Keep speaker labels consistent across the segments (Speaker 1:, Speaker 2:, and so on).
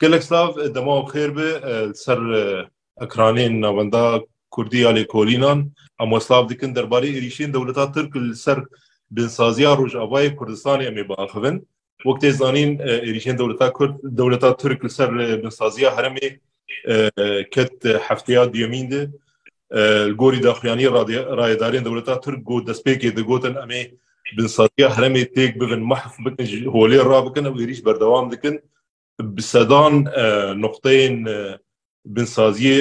Speaker 1: Gelek slav, dema û xêr bi li ser ekranên navenda Kurdî ya lêkolînan em wesla dikin derbarê êrîşên dewleta Tirk li ser binsaziya Rojavayê Kurdistanê em ê biaxivin. Wek tê zanîn êrîşên dewleta Kurd dewleta Tirk li ser binsaziya herêmê ket hefteya duyemîn de Li gorî daxuyaniyê rayedarên dewleta Tirk got destpêkê digotin em ê binsaliya heremê têk bibin, mahf bikin ji holê rabikin ew êrîş berdewam dikin. Bi sedan noqteyên binsaziyê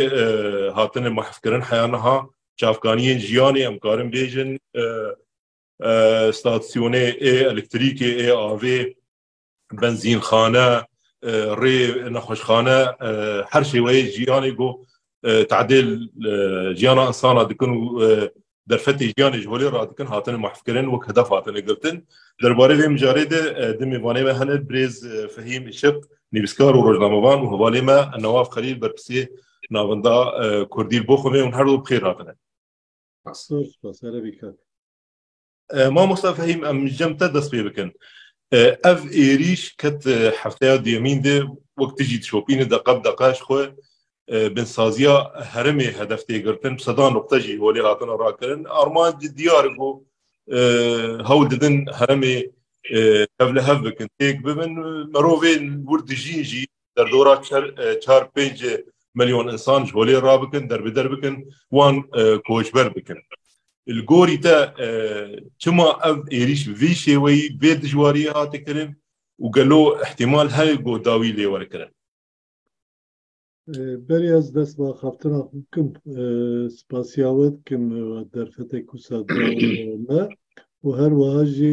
Speaker 1: hatine mahfkirin heya niha. Çavkaniyên jiyanê em karin bêjin, stasyonê ê elektrîkê, ê avê, benzînxane rê nexweşxane her şêweyê jiyanê got tadêl jiyana insana dikin û derfetê jiyanê ji holê radikin hatine mahfkirin wek hedef hatine girtin. Derbarê vê mijarê de di mêvanê me hene birêz Fehîm Îşiq nivîskar û rojnamevan û hevalê me Nawaf Xelîl berpirsê navenda Kurdî li bo xwe me hûn her du bi xêr hatine. Spas spas erê bî kak. Mamosta Fehîm em ji cem te dest pê bikin. Ev êrîş ket hefteya duyemîn de wek tu jî dişopîne deqe bi deqe ji xwe binsaziya herêmê hedef tê girtin bi sedan noqte jî holê hatine rakirin. Armanc diyar e ku hewl didin herêmê hev li hev bikin têk bibin. Mirovên wir dijîn jî derdora çar pênc milyon insan ji holê ra bikin derbider bikin wan koçber bikin. Li gorî te çima ev êrîş bi vî şêweyî vê dijwariyê hate kirin û gelo îhtîmal heye ku dawî lê were kirin? Berê ez dest bi axaftina xwe bikim. Spasiya we dikim derfetek wisa da me û her wiha jî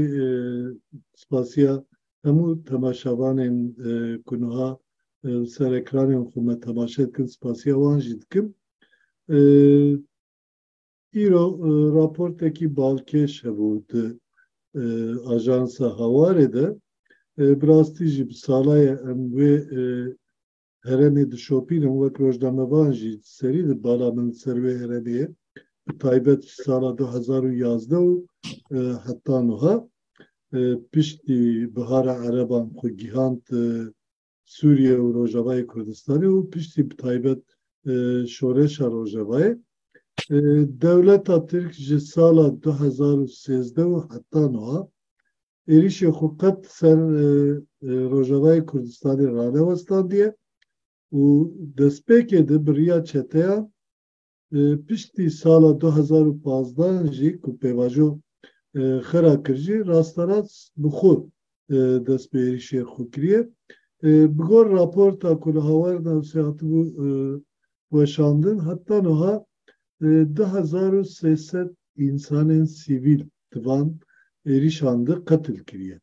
Speaker 1: spasiya hemû temaşevanên ku niha li ser ekranên xwe me temaşe dikin spasiya wan jî dikim. Îro raportekî balkêş hebû di ajansa Hawarê de. Bi rastî jî bi sala ye em wê herêmê dişopîn hûn wek rojnamevan jî serî di bala min li ser wê herêmê ye bi taybet ji sala du hezar û yazdeh û heta nuha piştî bihara ereban xwe gihand Sûriye û Rojavayê Kurdistanê û piştî bi taybet şoreşa Rojavayê dewleta Tirk ji sala du hezar û sêzdeh û heta nuha êrîşê xwe qet ser Rojavayê Kurdistanê ranewestandiye û destpêkê di bi riya çeteyan piştî sala du hezar û pazdeh jî ku pêvajo xira kir jî rasterast bi xwe dest bi êrîşê xwe kiriye. Bi gor raporta ku li Hawer Newsê hatibû weşandin heta niha du hezar û sê sed însanên sivîl di van êrîşan de qetil kiriye.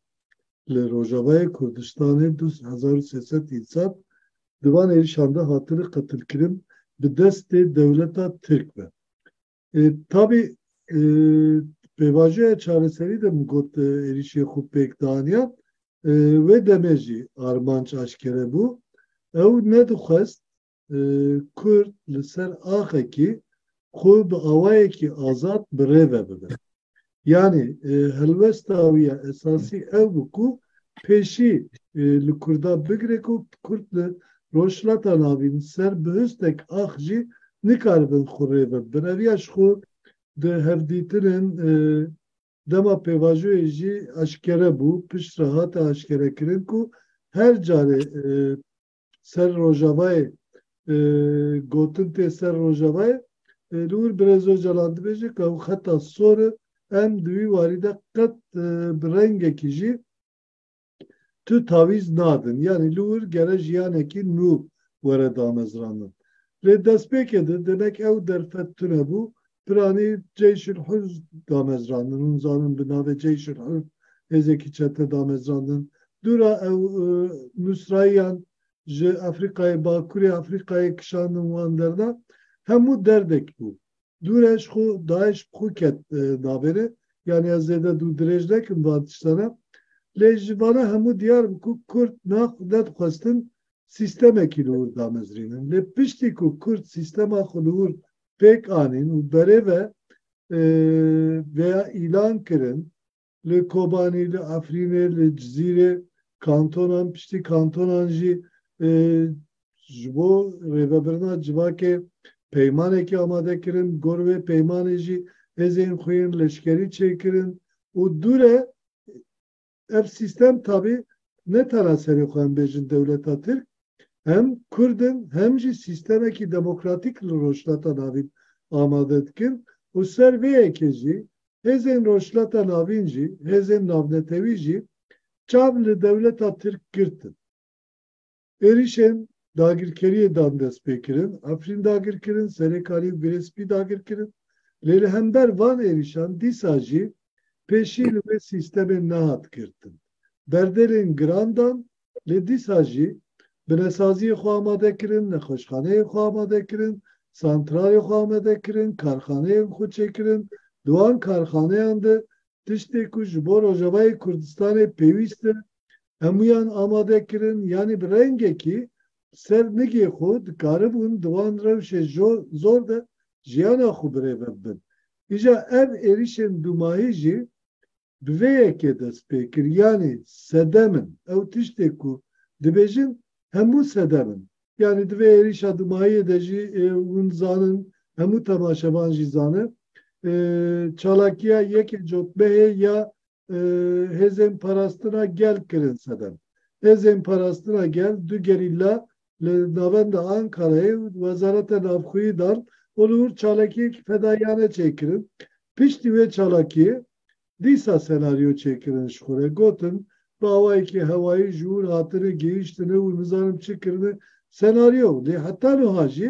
Speaker 1: Li Rojavayê Kurdistanê du hezar û sê sed însan di van êrîşan de hatine qetilkirin bi destê dewleta Tirk ve. Tabî di pêvajoya çareserî de min got êrîşê xwe pêk daniyan. Wê demê jî armanc aşkere bû. Ew nedixwest Kurd li ser axekî xwe bi awayekî azad bi rê ve bibe. Yanî helwesta wî ya esasî ew bû ku pêşî li Kurda bigire ku Kurd li Rojhilata Navîn li ser bi hustek ax jî nikaribin xwe rê ve bibin. Ev ya ji xwe di hevdîtinên dema pêvajoyê jî eşkere bû, piştre hate eşkerekirin ku her carê ser Rojavayê e, gotin tê ser Rojavayê e, li wir Birêz Ocalan dibêje ku ew xeta sor e em di wî warî de qet e, bi rengekî jî tu tavîz nadin yanî li wir gere jiyanekî nû were damezrandin lê destpêkê de demek ew derfet tune bû Piranî Ceyşul Hur damezrandin. Hûn zanin bi navê Ceyşul Hur hêzekî çete damezrandin. Dûra ew nûsrayiyan ji Efrîqayê, Bakurê Efrîqayê kişandin wan derna. Hemû derdek bû. Dûre ji xwe DAIŞ bi xwe ket navê re. Yanî ez zêde dû dirêj nekim van tiştene. Lê ji vana hemû diyar bû ku Kurd nedixwestin sîstemekî li wir damezrînin. Lê piştî ku Kurd sîstema xwe li wir pêk anîn û berê ve vêya îlan kirin li Kobanî, li Efrînê, li Cizîrê kantonan piştî kantonan jî ji bo rêvebirina civakê peymanekî amade kirin. Bi gor wê peymanê jî hêzên xwe yên leşkerî çêkirin û dûre Ev sîstem tabî ne tena serê xwe em bêjin dewleta Tirk, hem Kurd in hem jî sîstemekî demokratîk li Rojhilata Navîn amade dikin û ser vê yekê jî hêzên Rojhilata Navîn jî, hêzên navnetewî jî çav li dewleta Tirk girtin. Êrîşên dagirkeriyê dan destpêkirin, Efrîn dagirkirin, Serêkanî û Girê Spî dagirkirin. Lê li hember van êrîşan dîsa jî pêşî li wê sîstemê nehat girtin. Berdêlên giran dan, lê dîsa jî binesaziyê xwe amade kirin, nexweşxaneyên xwe amade kirin, santralên xwe amade kirin, karxaneyên xwe çêkirin. Di wan karxaneyan de tiştê ku ji bo Rojavayê Kurdistanê pêwîst e Hemûyan amade kirin, yanî bi rengekî bi ser nigê xwe dikaribûn di wan rewşê zor de jiyana xwe birêve bibin. Îja ev êrîşên dûmahî jî bi vê yekê dest pê kir, yanî sedem in. Ew tiştê ku dibêjin hemû sedem in. Yanî di vê êrîşa dûmahiyê de jî hûn zanin, hemû temaşevan jî zane, çalakiya yekê cotmehê ya hêzên parastina gel kirin sedem. Hêzên parastina gel du gerîla li navenda Ankarayê û Wezareta Navxweyî dan û li wir çalakiyekî fedaiyane çêkirin. Piştî wê çalakiyê dîsa senaryo çêkirin ji xwe re gotin bi awayekî hewayî ji wir hatine gihîştine û nizanim çi kirine senaryo lê heta nuha jî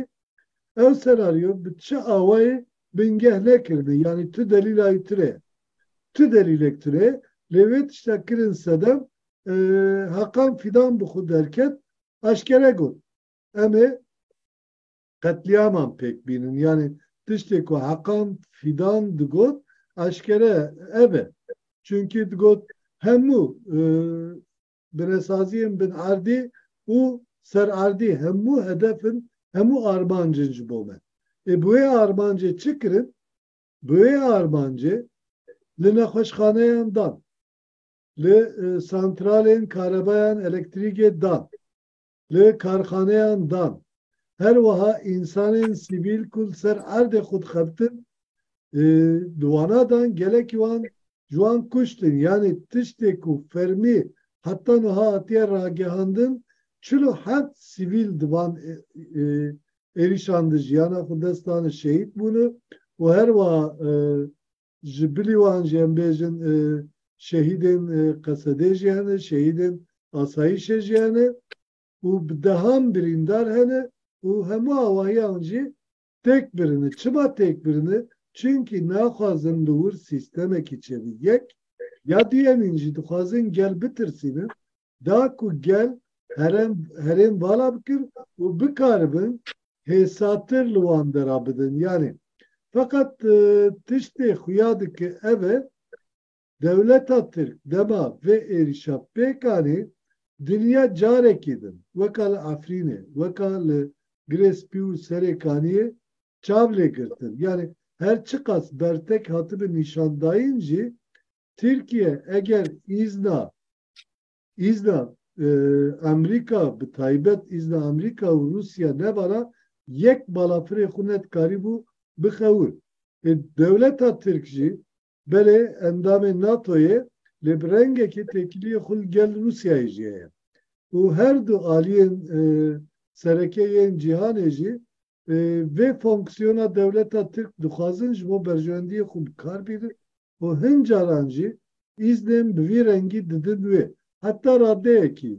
Speaker 1: ew senaryo bi çi awayê bingeh nekirine yanî tu delîla wî tune ye. Ti delîlek tune lê wê tişta kirin Sedem Hakan Fîdan bi xwe derket aşkere got em ê qetlîaman pêk bînin yanî tiştê ku Hakan Fîdan digot aşkere ev e çunkî digot hemû binesaziyên bin erdî û ser erdî hemû hedef in hemû armancin ji bo me. Ê bi wê armancê çi kirin? Bi wê armancê li nexweşxaneyan dan, li santralên karebayan elektrîkê dan, li karxaneyan dan, her wiha însanên sivîl ku li ser erdê xwe dixebitin di wana dan gelekî wan ji wan kuştin yanî tiştê ku fermî heta nuha hatiye ragihandin çil û heft sivîl di van êrîşan di jiyana xwe dest dane şehîd bûne û her wiha ji bilî wan jî em bêjin şehîdên Qesedê jî hene, şehîdên asayîşê jî hene û bi dehan birîndar hene û hemû awayan jî têk birine. Çima têk birine? Çimkî naxwazin li wir sîstemekî çêbe. Yek, ya duyemîn jî dixwazin gel bitirsînin da ku gel herem herêm vala bikir û bikaribin hêsatir li wan de ra bidin. Yanî feqet tiştê xuya dike ev e, dewleta Tirk dema vê êrîşa pêk anî dinya carekî din weka li Efrînê, weka li Girê Spî û Serê Kaniyê çav lê girtin. Yanî her çiqas bertek hatibin nîşandayîn jî Tirkiye eger îzna Îzna Amerîka bi taybet îzna Amerîka û Rûsya nevara yek balafirê xwe ne dikarîbû bixewir. Ê dewleta Tirk jî belê endamê NATOyê lê bi rengekê têkiliyê xwe li gel Rûsyayê jî heye û her du aliyên sereke yên cîhanê jî Vê fonksiyona dewleta Tirk dixwazin ji bo berjewendiyê xwe bi kar bînin û hin caran jî îznên bi vî rengî didin wê. Heta radeyekî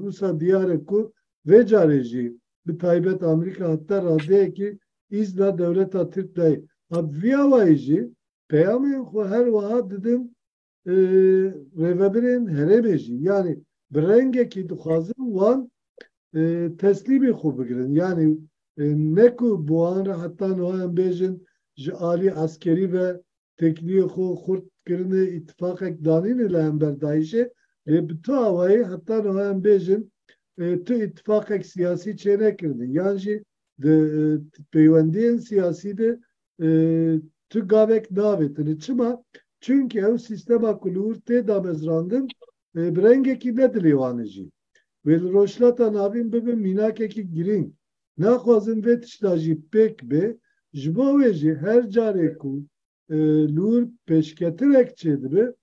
Speaker 1: wisa diyar e ku vê carê jî bi taybet Amerîka heta radeyekî îzna dewleta Tirk dayê. Bi vî awayî jî peyamên xwe her wiha didin rêvebirên herêmê jî yanî bi rengekî dixwazin wan teslîmî xwe bigirin. Yanî ne ku bi wan re heta niha em bêjin ji alî eskerî ve têkiliyê xwe xurt kirine, îtîfaqek danîne li hember DAIŞ'ê lê bi tu awayî heta niha em bêjin tu îtîfaqek siyasî çênekirine yan jî di peywendiyên siyasî de Tu gavek navêtini. Çima? Çunki ew sîstema ku li wir tê damezrandin bi rengekî ne dilê wan e jî. Wê li Rojhilata Navîn bibe mînakekî girîng. Naxwazim vê tişta jî pêk bê. Ji bo wê jî her carê ku li wir pêşketirek çêdibe,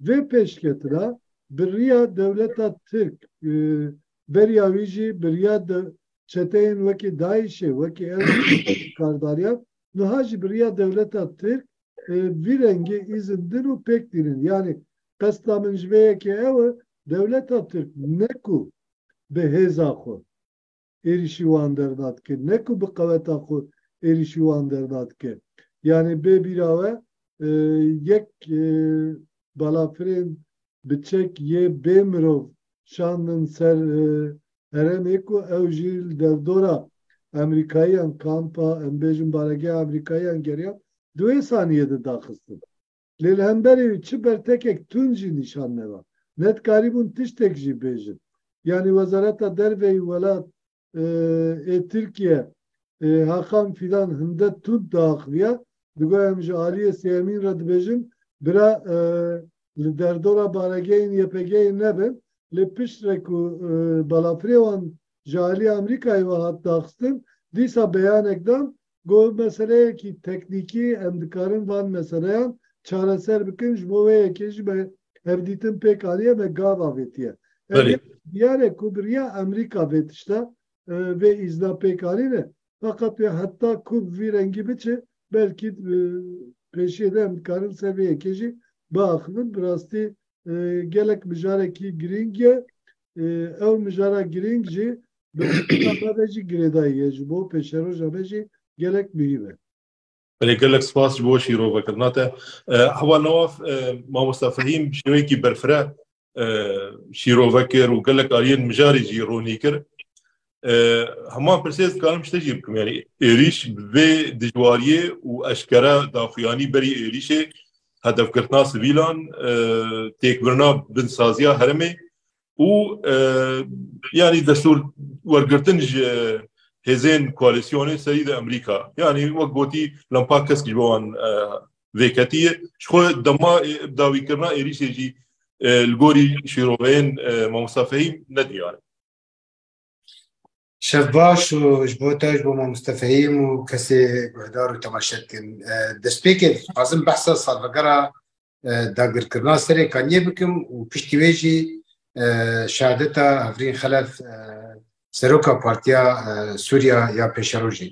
Speaker 1: vê pêşketira bi riya dewleta Tirk, beriya wî jî bi riya çeteyên wekî DAIŞ'ê, wekî ew kardariyan, niha jî bi riya dewleta Tirk vî rengî îzin din û pêk dînin. Yanî qesda min ji vê yekê ew e, dewleta Tirk ne ku bi hêza xwe êrîşî wan derna dike, ne ku bi qeweta xwe êrîşî wan derna dike. Yanî bê bîra we yek balafirên bi çek yê bê mirov şandin ser herêmê ku ew jî li dewdora Amerîkayiyan kampa em bêjin baregeha Amerîkayiyan geriyan di wê saniyê de daxistin. Lê li hemberê wî çi bertekek tund jî nîşan neda. Ne dikarîbûn tiştek jî bêjin. Yanî wezareta derveyî welat ê Tirkiye Hakan Fidan Hindet Tund diaxiviya. Digo em ji aliyê sêyemîn re dibêjin bira li derdora baregehên YPG'ê nebin lê pişt re ku balafirê wan ji aliyê Amerîkayê ve hat daxistin dîsa beyanek dan Got, meseleyekî teknîkî em dikarin van meseleyan çareser bikin, ji bo wê yekê jî me hevdîtin pêk aniye, me gav avêtiye. Belê. Diyar e ku bi riya Amerîka vê tişta, vê îzna pêk anîne. Feqet wê heta ku bi vî rengî biçe, belkî pêşiyê de em dikarin ser vê yekê jî biaxivin. Bi rastî gelek mijarekî girîng ye. Ew mijara girîng jî bi miqata me ve jî girêdayî ye. Ji bo pêşeroja me jî gelek muhîm e. Belê gelek spas ji bo şîrovekirina te. Heval Nawaf, Mamosta Fehîm bi şêweyekî berfireh şîrove kir û gelek aliyên mijarê jî ronî kir. Heman pirsê ez dikarim ji te jî bikim yanî êrîş bi vê dijwariyê û eşkere daxuyanî berî êrîşê hedefgirtina sivîlan têkbirina binsaziya herêmê û yanî destûr wergirtin ji hêzên koalîsyonê serî de Amerîka yanî wek gotî lempa kesk ji bo wan vêketiye ji xwe dema dawîkirina êrîşê jî li gorî şîroveyên mamosta Fehîm nediyar e. Şev baş û ji bo te ji bo Mamoste Fehîm û kesê guhdar û temaşe dikin. Destpêkê dixwazim behsa salvegera dagirkirina serê Kaniyê bikim û piştî wê jî şehadeta Hevrîn Xelef seroka Partiya Sûriya ya Pêşerojê.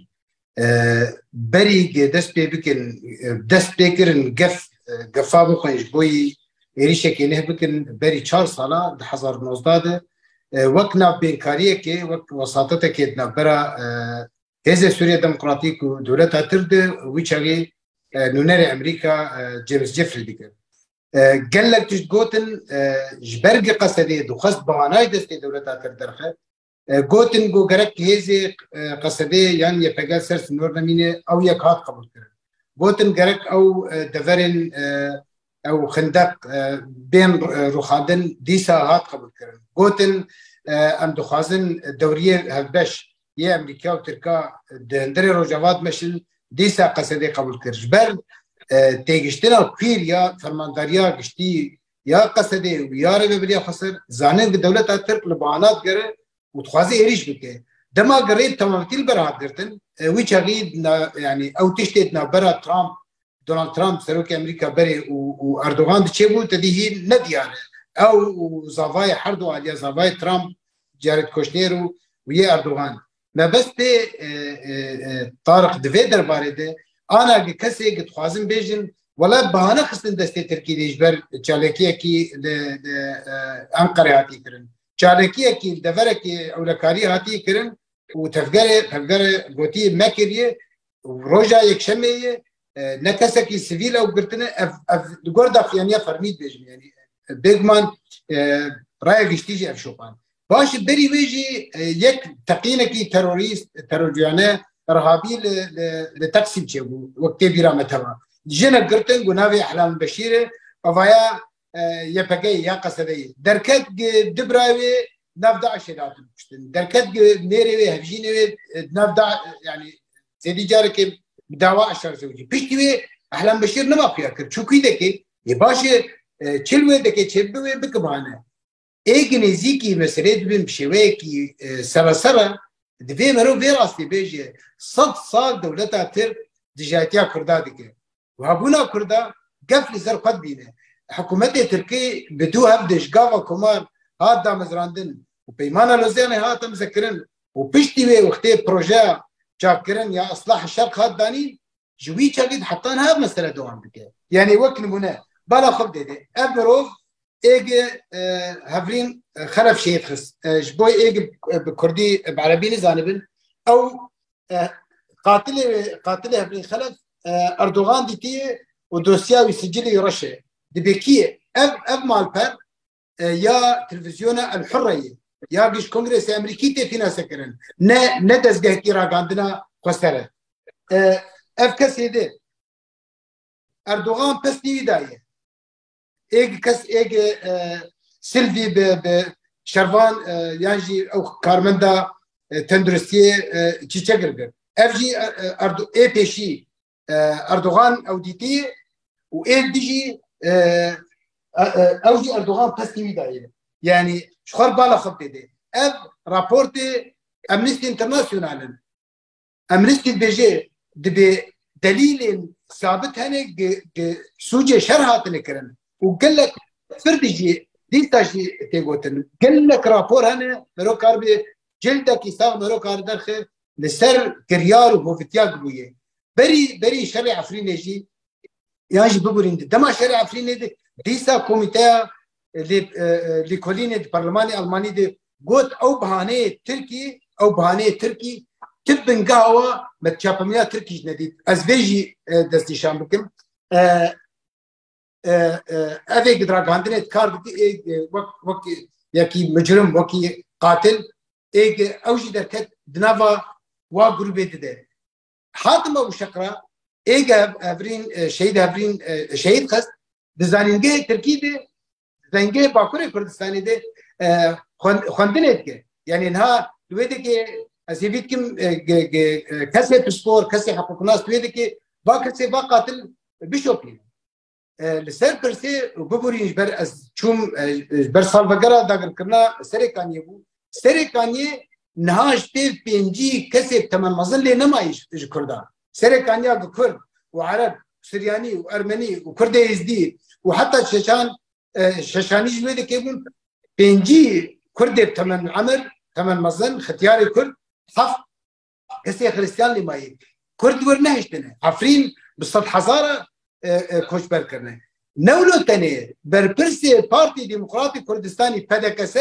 Speaker 1: berî dest pê bikin dest pê kirin gef gefa bixwin ji bo yî êrîşekê leh bikin berî çar sala di hezar û nozdeh de wek navbênkariyekê wek wesatetekê di navbera Hêzê Sûriye Demokratîk û Dewleta Tir de wî çavê nûnerê Emerîka James Jeffrey dikir. Gelek tişt gotin ji ber giqesedê dixwest bihanayê destê dewleta Tir derxe Gotin ku gerek hêzê qesebê yan YPG ser sinor nemîne ew yek hat qebûlkirin. Gotin gerek ew deverên ew xindeq bên rûxandin dîsa hat qebûlkirin. Gotin em dixwazin dewriyê hevbeş yê Amerîka û Tirka di hundirê Rojava dimeşin dîsa qesebê qebûlkir. Ji ber têgiştina kwîr ya fermandariya giştî ya Qesedê û Biyarê ve biriya xweser, zanibin ku dewleta Tirk li bana digere û dixwaze êrîş bike. Dema girê bi temamîtî li ber hat girtin, wî çaxî yanî ew tiştê di navbera Trump, Donald Trump serokê Amerîka berê û û Erdogan di çêbû te dî hîn ne diyar e. Ew û zavayê herdu aliya zavayê Trump, Jared Kushner û û yê Erdogan Mebestê Tariq di vê derbarê de ana gi kesê gi dixwazin bêjin wela bahane xistin destê Tirkî dê ji ber çalakiyekî li Enqerê hatî kirin. Çalakiyekî li deverekî ewlekarî hatî kirin û tevgerê tevgerê gotiye mekiriye Roja Yekşemê ye ne kesekî sivîl ew girtine ev ev di gor dafiyaniya fermî dibêjin yanî bêguman raya giştî jî ev şopan. Baş berî wê jî yek teqînekî terorîst terorcuyane Rehabî li li Teksîm çêbû wek tê bîra me teva. Jine girtin got navê Ehlal Beşîr e evaya YPG'yê ya Qesedeyê. Derket du birayê wê nav DAIŞ'ê de hatin kuştin. Derket nêrê wê hevjînê wê nav da yani zêdî carekê bi dawa eşar zewcî. Piştî wê Ehlan Beşîr nima xuya kir. Çûkî deke yê başê çil wê deke çêbibe wê bike bihane. Êgî nêzîkî meselê dibin bi şêweyekî serasera divê merov vê rastî bêje sed sal dewleta Tirk dijayetiya Kurda dike. Wabûna Kurda gef li ser xwe dibîne. Hikûmetê Tirkî bi du hev dij gava komar hat damezrandin û Peymana Lozyanê hat imzekirin û piştî wê wextê projeya çakkirin ya Islahê Şerq hat danîn ji wî çavî heta niha ev mesele dewam dike. Yanî wek nimûne bala xwe bidê ev mirov êgê e, hevrîn e, xeref şêyê xist e, ji bo êgê bi kurdî bi erebî nizanibin ew qatilê qatilê hevrîn xelef Erdogan dîtiye û dosya wî sicilî reşe dibêkiye ev ev malper ya televizyona El Hurreyê ya giş Kongresê Amerîkî tê fînanse kirin. Ne ne dezgehekî ragandina xwesere. Ev kesê de Erdogan pestî wî daye. Êg kes êg Silvî bi bi şervan yan jî ew karmenda tenduristiyê çîçe girgir. Ev jî ê pêşî Erdogan ew dîtiye û ê dijî ew jî Erdogan pestî wî dayê. Yanî ji xwe bala xwe bidê. Ev raportê Amnesty International in. Amnesty dibêje dibê delîlên sabit hene sûcê şer hatine kirin û gelek fir dijî dîsta jî tê gotin. Gelek rapor hene mero kar bê cildekî sax mero kar derxe li ser kiryar û hovitiyak bûye. Berî berî şerê Efrînê jî yan jî bibûrîn di. Dema şerê Efrînê di dîsa komîteya lê lêkolînê di parlemanê Almanî di got ew bihaneyê Tirkî ew bihaneyê Tirkî ti bingeha wa me çapemîna Tirkî jî nedît. Ez vê jî destnîşan bikim. Evê gidragandinê kar dikê wek wek yekî micrim wekî qatil êk ew jî derket di nava wa grûbê dide. Hatim Ebu Şekra êk hevrîn şehîd hevrîn şehîd xist di zanîngehê Tirkî de zengehê Bakurê Kurdistanê de xwendinê dike. Yanî niha di wê dikê ez hêvî dikim kesê pispor, kesê heqûqnas di wê dikê va kesê va qatil bişopîne. Li ser pirsê bibûrîn ji ber ez çûm ji ber salvegera dagirkirina Serê Kaniyê bû. Serê Kaniyê niha ji pêv pêncî kesê temel mezin lê nemayî ji Kurdan. Serê Kaniya bi Kurd û Ereb, Suryanî û Ermenî û Kurdê Êzdî û heta Çeçan Şeşanî ji wê dikê bûn. Pêncî Kurdê bi temel emir, temel mezin, xityarê Kurd heft Kesê Xristiyan lê mayê. Kurd wir nehiştine. Efrîn bi sed hezara koçber kirine. Newlo tenê berpirsê Partî Demokratî Kurdistanî PDKS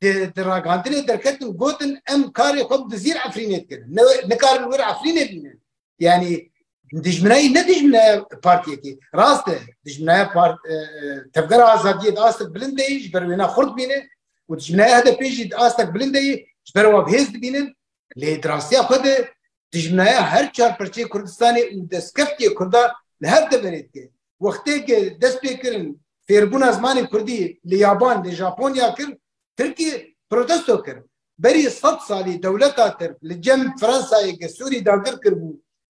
Speaker 1: di di ragandinê derketin gotin em karê xwe bi dizîr Efrînê dikirin. Nikarin wir Efrînê bînin. yani dijminayî ne dijminaya partiyekî rast e dijminaya part e, e, tevgera azadiyê de astek bilind deyî ji ber wêna xurt bîne û dijminaya HDP jî astek bilind deyî ji ber wan hêz dibînin lê di rastiya xwe de dijminaya her çar perçeyê Kurdistanê û destkeftiyê Kurda li hev de verê dike wextêkê dest pê kirin fêrbûna zimanê Kurdî li yaban li Japonya kir Tirkî protesto kir berî sed salî dewleta Tirk li cem Fransayê ke Sûrî dagir kiribû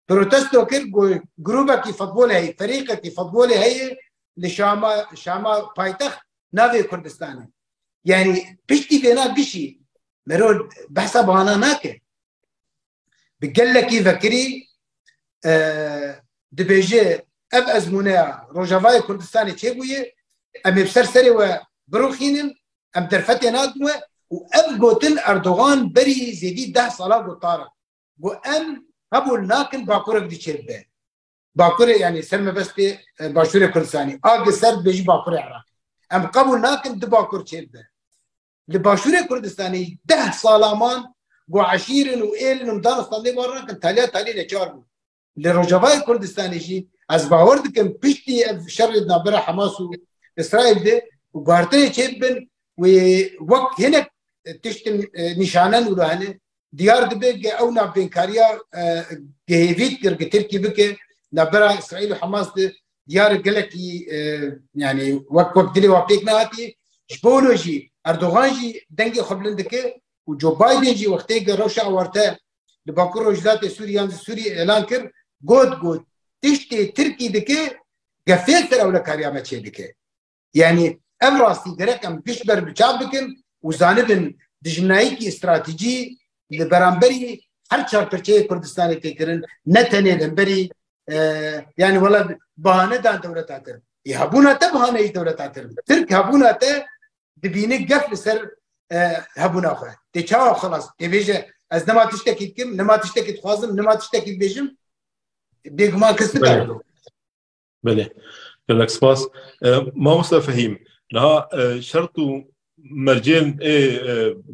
Speaker 1: protesto kir ku grûbekî futbolê heye, ferîqekî futbolê heye li Şama, Şama paytext navê Kurdistanê. Yanî piştî vêna gişî mero behsa bana nake. bi gelekî vekirî dibêje ev ezmûneya Rojavayê Kurdistanê çêbûye em ê bi ser serê we birûxînin em derfetê nadin we û ev gotin Erdogan berî zêdî deh sala got tara got em hebûl nakin bakur ev dî çêbibe bakurê yanî ser mebestê başûrê Kurdistanê agi ser dibêjî bakurê Iraqê em qebûl nakin di bakur çêbibe Li başûrê Kurdistanê deh sala man ku eşîrin û êlin û daristan lê wan rakin taliya talî neçar bû. Li Rojavayê Kurdistanê jî ez bawer dikim piştî ev şerê di navbera Hemas û Îsraîl de guherteyê çêbibin wê wek hinek tiştin nîşanen û li hene Diyar dibe ke ew navbênkariya gihêvît kir ke Tirkî bike navbera Îsraîl û Hemas de diyar gelekî yanî wek wek dilê wan pêk nehatî. Ji bo wilo jî Erdogan jî dengê xwe bilind dike û Joe Biden jî wextê ke rewşa ewarte li Bakur Rojhilatê Sûrî yan li Sûrî elan kir got ku tiştê Tirkî dike gefê ser ewlekariya me çêdike. Yanî ev rastî gerek em pişt ber bi çav bikin û zanibin dijminayîkî stratejî li beramberî her çar pirçeyê Kurdistanê tê kirin ne tenê li hemberî yanî wela bahane dan dewleta tir. Ê hebûna te bihaneyî dewleta tir. Tirk hebûna te dibîne gef li ser hebûna xwe. Tê çawa xilas tê bêje ez nema tiştekî dikim, nema tiştekî dixwazim, nema tiştekî dibêjim bêguman kes dibe. Belê, gelek spas. Mamosta Fehîm, niha şert û mercên ê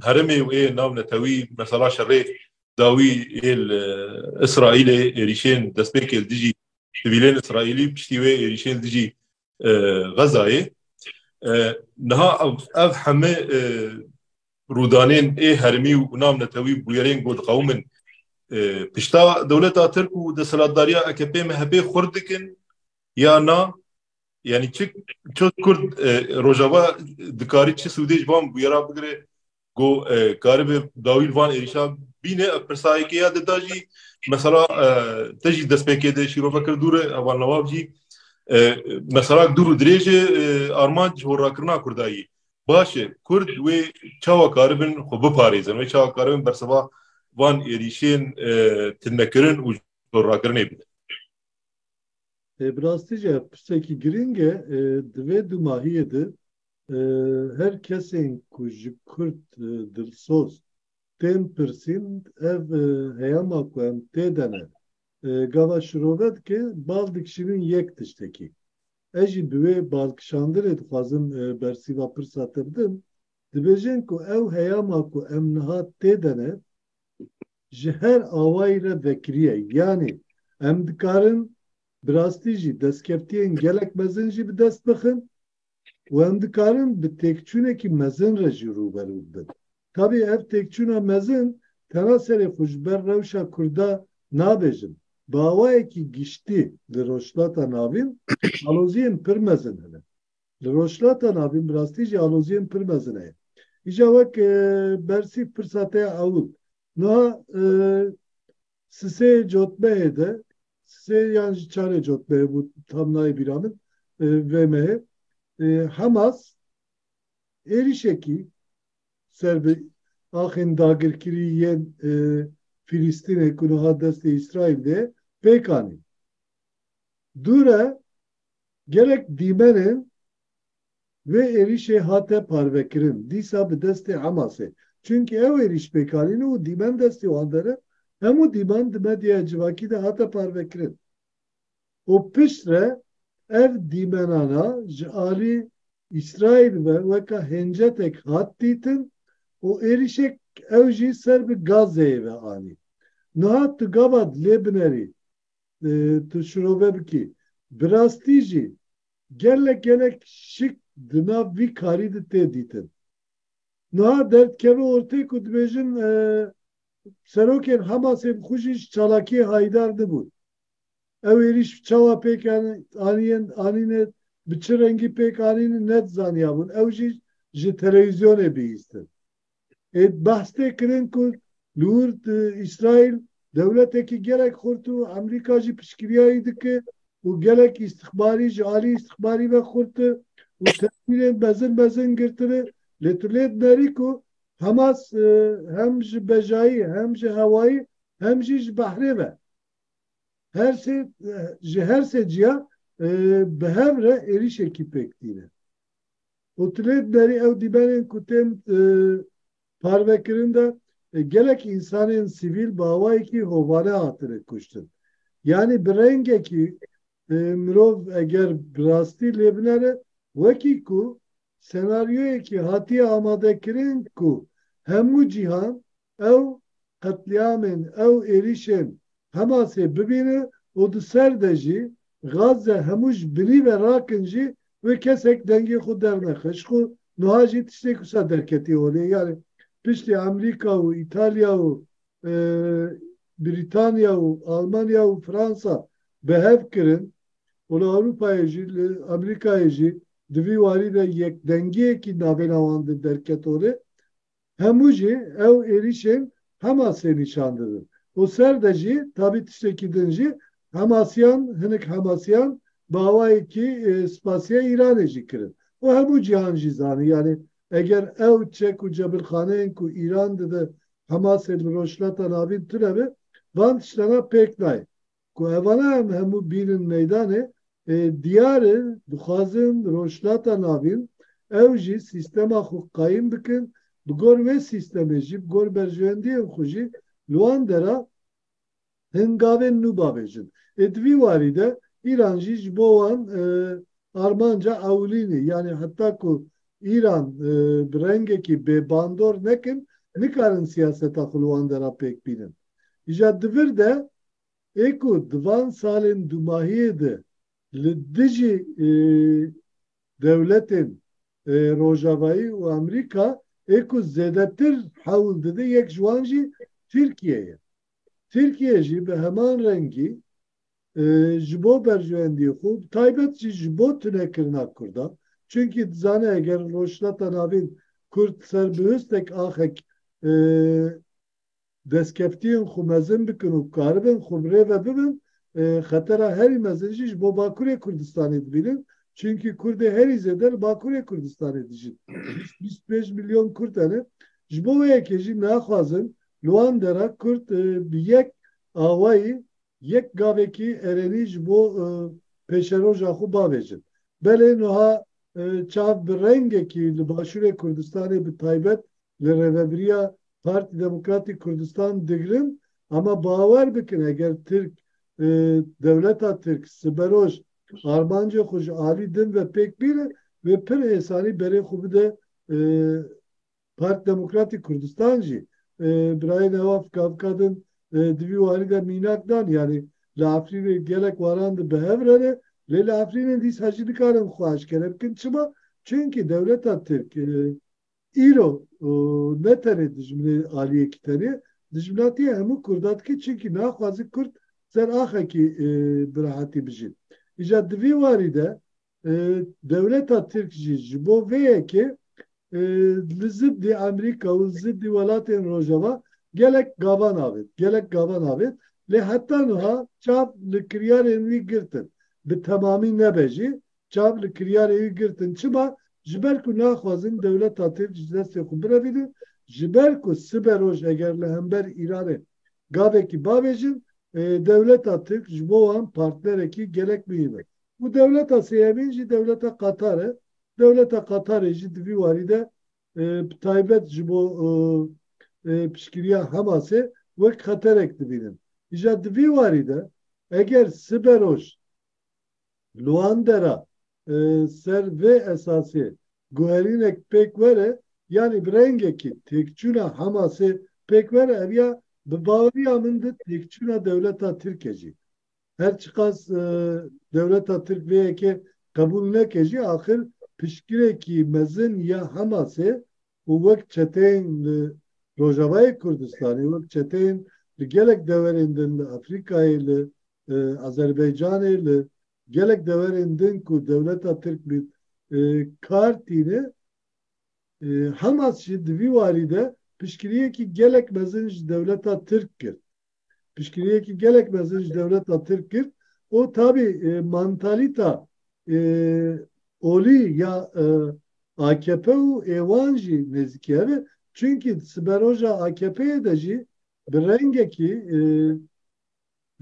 Speaker 1: herêmê û ê nav netewî mesela şerê dawî ê li Îsraîlê êrîşên destpêkê li dijî sivîlên Îsraîlî û piştî wê êrîşên li dijî Xezayê. Niha ev hemû rûdanên ê hermî û nav netewî bûyerên ku diqewimin pişta dewleta Tirk û desthilatdariya AKP-MHP'ê xurt dikin ya na? Yanî çi çi Kurd Rojava dikarî çi sûdê ji van bûyera bigire ku karibe dawî li van êrîşa bîne? Ev pirsa yekê ya dida jî mesela te jî destpêkê de şîrove kir dûr e heval newab jî meselak dûr û dirêj e armanc ji horrakirina Kurdayî. Baş e, Kurd wê çawa karibin xwe biparêzin, wê çawa karibin berseva van êrîşên tilmekirin û jorrakirinê bidin. Bi rastî jî ev pirsekî girîng e. Di vê dûmahiyê de her kesên ku ji Kurd dilsoz tên pirsîn ev heyama ku em tê de ne gava şirove dike bal dikişînin yek tiştekî. Ez jî bi wê balkişandinê dixwazim bersîva pirsa te bidim, dibêjin ku ew heyama ku em niha tê de ne, ji her awayî re vekirî ye. Yanî em dikarin bi rastî jî destkeftiyên gelek mezin jî bi dest bixin û em dikarin bi têkçûnekî mezin re jî rûberû bibin. Tabî ev têkçûna mezin tena serê xwe ji ber rewşa Kurda nabêjim. Bi awayekî giştî li Rojhilata Navîn aloziyên pir mezin hene. Li Rojhilata Navîn bi rastî jî aloziyên pir mezin heye. Îja wek Bersîv pirsa te ya ewil. Niha Sisê Cotmehê de, Sisê yan ji Çarê Cotmehê bû tam nayê bîra min vê mehê, Hemas êrîşekî ser bi axên dagirkirî yên Fîlîstînê ku niha destê Îsraîl de ye pêk anî. Dûr e gelek dîmenên vê êrîşê hate parvekirin dîsa bi destê Hemasê. Çimkî ew êrîş pêk anîne û dîmen destê wan de ne, hemû dîman di medyaya civakî de hate parvekirin. û piştre ev dîmenana ji alî Îsraîl ve weka hêncetek hat dîtin û êrîşek ew jî ser bi Gazeyê ve anî. Niha tu gava dilê binerî, tu şirove bikî. Bi rastî jî gelek gelek şik di nav vî karî de tê dîtin. Niha derdikeve ortê ku dibêjin serokên Hamasê bi xwe jî ji çalakiyê hayîdar nibûn. Ew êrîş çawa pêk anîn anîne, bi çi rengî pêk anîn ne zaniyabûn, ew jî ji telewîzyonê bihîstin. Ê behs tê kirin ku li wir Îsraîl dewletekî gelek xurt û Emrîka jî piştgiriya wî dike û gelek îstixbarî ji alî îstixbarî ve xurt e û tedbîrên mezin mezin girtine lê tu lê dinerî ku Hamas hem ji bejayî hem ji hewayî hem jî ji behrê ve Her sê ji her sê ciya bi hev re êrîşekî pêk tîne. Û tu lê diderî ew dîmenên ku tên parvekirin de gelek însanên sivîl bi awayekî hovane hatine kuştin. Yanî bi rengekî mirov eger bi rastî lê binere wekî ku senaryoyekî hatiye amadekirin ku hemû cîhan ew qetlîamên ew êrîşên Hemasê bibîne û di ser de jî Gazze hemû ji binî ve rakin jî wê kesek dengê xwe dernexe. Ji xwe nuha jî tiştêk wisa derketî holê yanî piştî Amerîka û Îtalya û Brîtanya û Almanya û Fransa bi hev kirin û li Ewropayê jî li Amerîkayê jî di vî warî de yekdengiyekî navêna wan de derket holê Hemû jî ew êrîşên Hemasê nîşan didin û ser de jî tabî tiştekî din jî Hemasiyan hinik Hemasiyan bi awayekî spasiya Îranê jî kirin û hemû cîhan jî zanî yanî eger ew çek û cebilxaneyên ku Îran dide Hemasê li Rojhilata Navîn tune be van tiştena pêk nayê. Ku hevala em hemû bînin meydanê, diyar e dixwazin Rojhilata Navîn ew jî sîstema xwe qayîm bikin, bi gor wê sîstemê jî bi gor berjewendiyên xwe jî li wan dera hingavên nû bavêjin. Ê di vî warî de Îran jî ji bo wan armanca ewilîn e. Yanî heta ku Îran bi rengekî bêbandor nekin, nikarin siyaseta xwe li wan dera pêk bînin. Îja di vir de ê ku di van salên dumahiyê de li dijî dewletên Rojavayî û Amerîka ê ku zêdetir hewl dide yek ji wan jî Tirkiye ye. Tirkiye jî bi heman rengî ji bo berjewendiyê xwe û bi taybet jî ji bo tunekirina Kurdan çunkî dizane eger Rojhilata Navîn Kurd ser bi hustek axek destkeftiyên xwe mezin bikin û karibin xwe bi rê ve bibin, xetera herî mezin jî ji bo Bakurê Kurdistanê dibînin, çimkî Kurdê herî zêde li Bakurê Kurdistanê dijin. Bîst, bîst û pênc milyon Kurd hene. Ji bo wê yekê jî naxwazin li wan dera Kurd bi yek awayî, yek gavekî erênî ji bo pêşeroja xwe bavêjin. Belê niha çav bi rengekî li Başûrê Kurdistanê bi taybet li rêvebiriya Partî Demokratîk Kurdistan digrin, ama bawer bikin eger Tirk dewleta Tirk siberoj armancê xwe ji alî din ve pêk bîne wê pir êsanî berê xwe bide Partî Demokratîk Kurdistan jî. Birayê Newa Fikavkadin di vî warî de mînak dan yanî li Efrînê gelek waran di bi hev re ne lê li Efrînê dîsa jî nikarin xwe eşkere bikin çima? Çunkî dewleta Tirk, Îro ne tenê dijminê aliyekî tenê, dijminatiya hemû Kurdan dike çimkî naxwazin Kurd ser axekî bi rehatî bijîn. Îcar di vî warî de dewleta Tirk jî ji bo vê yekê li ziddî Amerîka û ziddî welatên Rojava gelek gavan avêt, gelek gavan avêt lê heta nuha çav li kiryarên wî girtin bi temamî nebe jî çav li kiryarê wî girtin. Çima? Ji ber ku naxwazin dewleta Tirk ji destê xwe birevînin, ji ber ku sibe roj eger li hember Îranê gavekî bavêjin, dewleta Tirk ji bo wan partnerekî gelek muhîm e. Û dewleta sêyemîn jî dewleta Qatar e. Dewleta Qatarê jî di vî warî de bi taybet ji bo piştgiriya Hemasê wek xeterek dibînin. Îja di vî warî de eger sibe roj, Luandera ser vê esasê guherînek pêk were yanî bi rengekî têkçûna Hamasê pêk were ev ya bi baweriya min di têkçûna dewleta Tirke jî. Her çiqas dewleta Tirk vê yekê qebûl neke jî axir piştgirêkî mezin ya Hamasê û wek çeteyên li Rojavayê Kurdistanê, wek çeteyên li gelek deverên din li Afrîkayê, li Azerbaycanê, li gelek deverên din ku dewleta Tirk bi kar tîne, Hamas jî di vî warî de piştgiriyekî gelek mezin ji dewleta Tirk kir. piştgiriyekî gelek mezin ji dewleta Tirk kir û tabî mantalîta olî ya akp û êwan jî nêzîkî hev e. Çimkî di siberoja AKP'ê de jî bi rengekî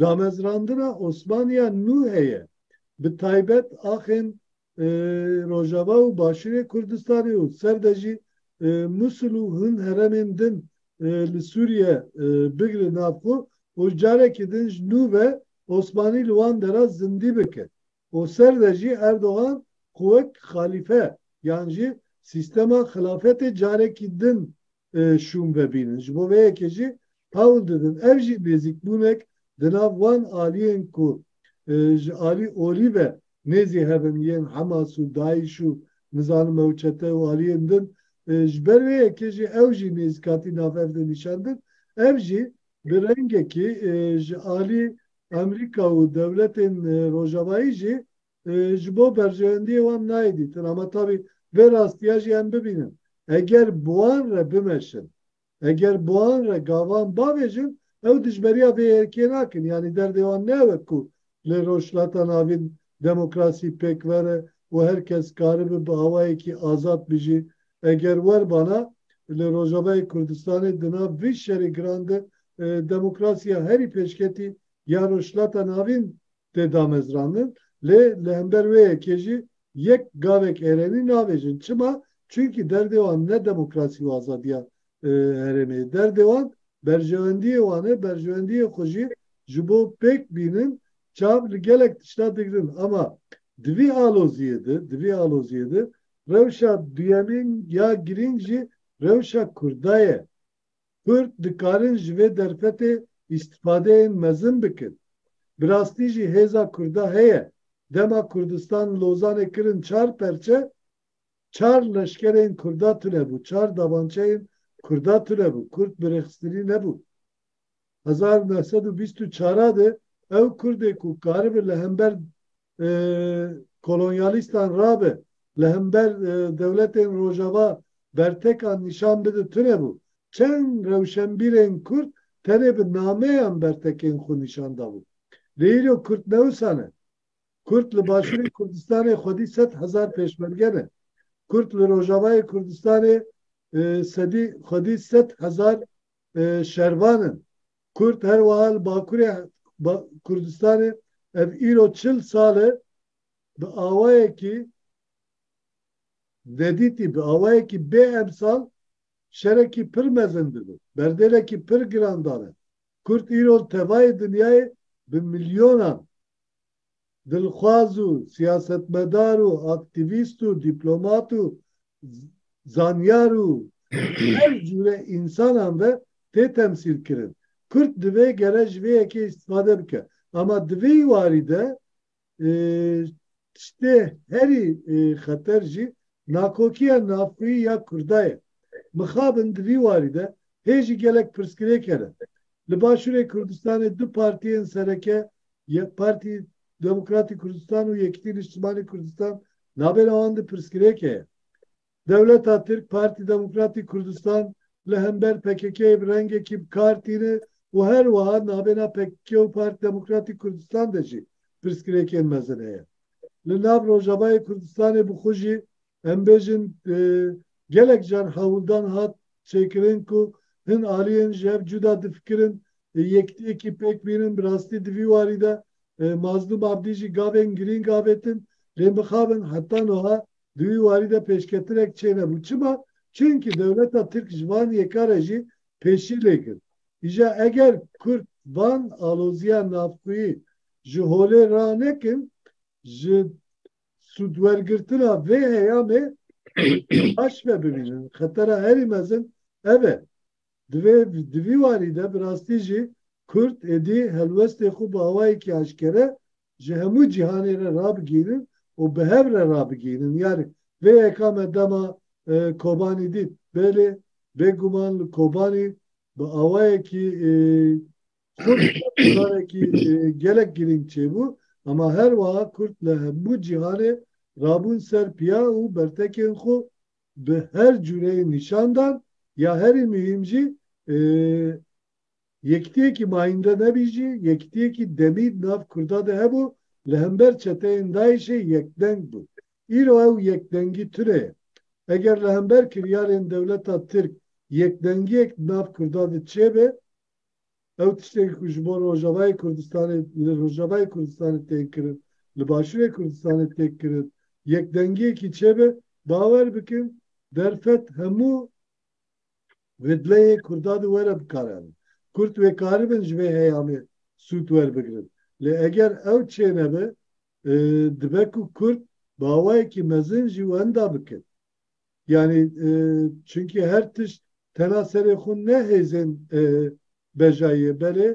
Speaker 1: damezrandina Osmaniya nû heye. Bi taybet axên Rojava û Başûrê Kurdistanê û ser de jî Mûsul û hin heremên din li Sûriye bigire nav xwe û carekî din ji nû ve Osmanî li wan dera zindî bike û ser de jî Erdogan xwe wek xalîfe yan jî sîstema xilafetê carekî din şûn vebînin. Ji bo vê yekê jî hewl didin. Ev jî nêzîkbûnek di nav wan aliyên ku ji alî olî ve nêzî hev in yên Hemas û Daîş û nizanim ew çete û aliyên din ji ber vê yekê jî ew jî nêzîkatî nav hev de nîşan din. Ev jî bi rengekî ji alî Amerîka û dewletên rojavayî jî ji bo berjewendiyê wan nayê dîtin ama tabî vê rastiya jî em bibînin. Eger bi wan re bimeşin, eger bi wan re gavan bavêjin ew dijberiya vê êrkê nakin yanî derdê wan ne ew e ku li Rojhilata Navîn demokrasî pêkver e û her kes karibe bi awayekî azad bijî. Eger werbana li Rojavayê Kurdistanê di nav vî şerê giran de demokrasiya herî pêşketî ya Rojhilata Navîn tê damezrandin lê li hember wê yekê jî yek gavek êrenî nabêjin. Çima? Çunkî derdê wan ne demokrasî û azadiya herêmê ye. Derdê wan berjewendiyê wan e, berjewendiyê xwe jî ji bo pêk bînin çav li gelek tişta digirin. Ama di vî aloziyê de, di vî aloziyê de rewşa duyemîn ya girîng jî rewşa Kurda ye. Kurd dikarin ji vê derfetê îstîfadeyên mezin bikin. Bi rastî jî hêza Kurda heye. Dema Kurdistan Lozanê kirin çar perçe, çar leşkerên Kurda tunebû, çar dabançeyên Kurda tunebû, Kurd bi rêxistinî nebû. hezar û neh sed û bîst û çar de ew Kurdê ku karibe li hember kolonyalîstan rabe, li hember dewletên Rojava bertekan nîşan bide tune bû. Çend rewşenbîrên Kurd tenê bi nameyan bertekên xwe nîşan dabûn. Lê îro Kurd ne wisa ne. Kurd li Başûrê Kurdistanê xwedî sed hezar pêşmerge ne. Kurd li Rojavayê Kurdistanê sedî xwedî sed hezar şervan in. Kurd her wiha li Bakurê Kurdistanê ev îro çil sal e bi awayekî nedîtî, bi awayekî bê emsal şerekî pir mezin dibin, berdêlekî pir giran dane. Kurd îro li tevayê dinyayê bi milyonan dilxwaz û siyasetmedar û aktîvîst û dîplomat û zanyar û her cûre însanan ve tê temsîlkirin. Kurd divê gere ji vê yekê îstîfade bike. Ama di vî warî de tiştê herî xeter jî nakokiya navxwî ya Kurda ye. Mixabin di vî warî de hê jî gelek pirsgirêk hene. Li Başûrê Kurdistanê du partiyên sereke Yek Partî Demokratî Kurdistan û Yekîtî Nîştimanî Kurdistan navbera wan de pirsgirêke ye. Dewleta Tirk Partî Demokratî Kurdistan li hember PKK'ê bi rengekî bi kar tîne û her wiha navbêna pkk û Partî Demokratî Kurdistan de jî pirsgirêkên mezin heye. Li nav Rojavayê Kurdistanê bi xwe jî Em bêjin gelek car hewldan hat çêkirin ku hin aliyên ji hev cuda difikirin, yekdiyekî pêk bînin, bi rastî di vî warî de Mazlûm Abdî jî gavên girîng avêtin, lê mixabin heta nuha di wî warî de pêşketirek çênebû. Çima? Çimkî dewleta Tirk ji van yeka re jî pêşî lê girt. Îja eger Kurd van aloziya navxweyî ji holê ranekin, ji sûdwergirtina vê heyamê bi baş ve bibînin. Xetera herî mezin ev e. Divê di vî warî de bi rastî jî Kurd êdî helwestê xwe bi awayekî aşkere ji hemû cîhanê re rabigihînin û bi hev re rabigihînin. Yarî vê yeka me dema Kobanî dît. Belê, bêguman li Kobanî bi awayekî Kurd carekî gelek girîng çêbû hema her wiha Kurd li hemû cîhanê rabûn ser piya û bertekên xwe bi her cûreyê nîşan dan ya herî muhîm jî yekitiyekî mayînde nebî jî yekitiyekî demî di nav Kurda de hebû li hember çeteyên DAIŞ'ê yekdeng bû. Îro ew yekdengî tune ye. Eger li hember kiryarên dewleta Tirk yekdengiyek di nav Kurda de çêbe, Ew tiştekî ku ji bo Rojavayê Kurdistanê li Rojavayê Kurdistanê tên kirin, li Başûrê Kurdistanê tê kirin, yekdengiyekî çêbe, bawer bikin derfet hemû vidleyê Kurda de were bikaranîn. Kurd wê karibin ji vê heyamê sûd werbigirin. Lê eger ew çênebe, dibe ku Kurd bi awayekî mezin jî wenda bikin. Yanî çimkî her tişt tena serê xwe ne hêzên bejayî ye belê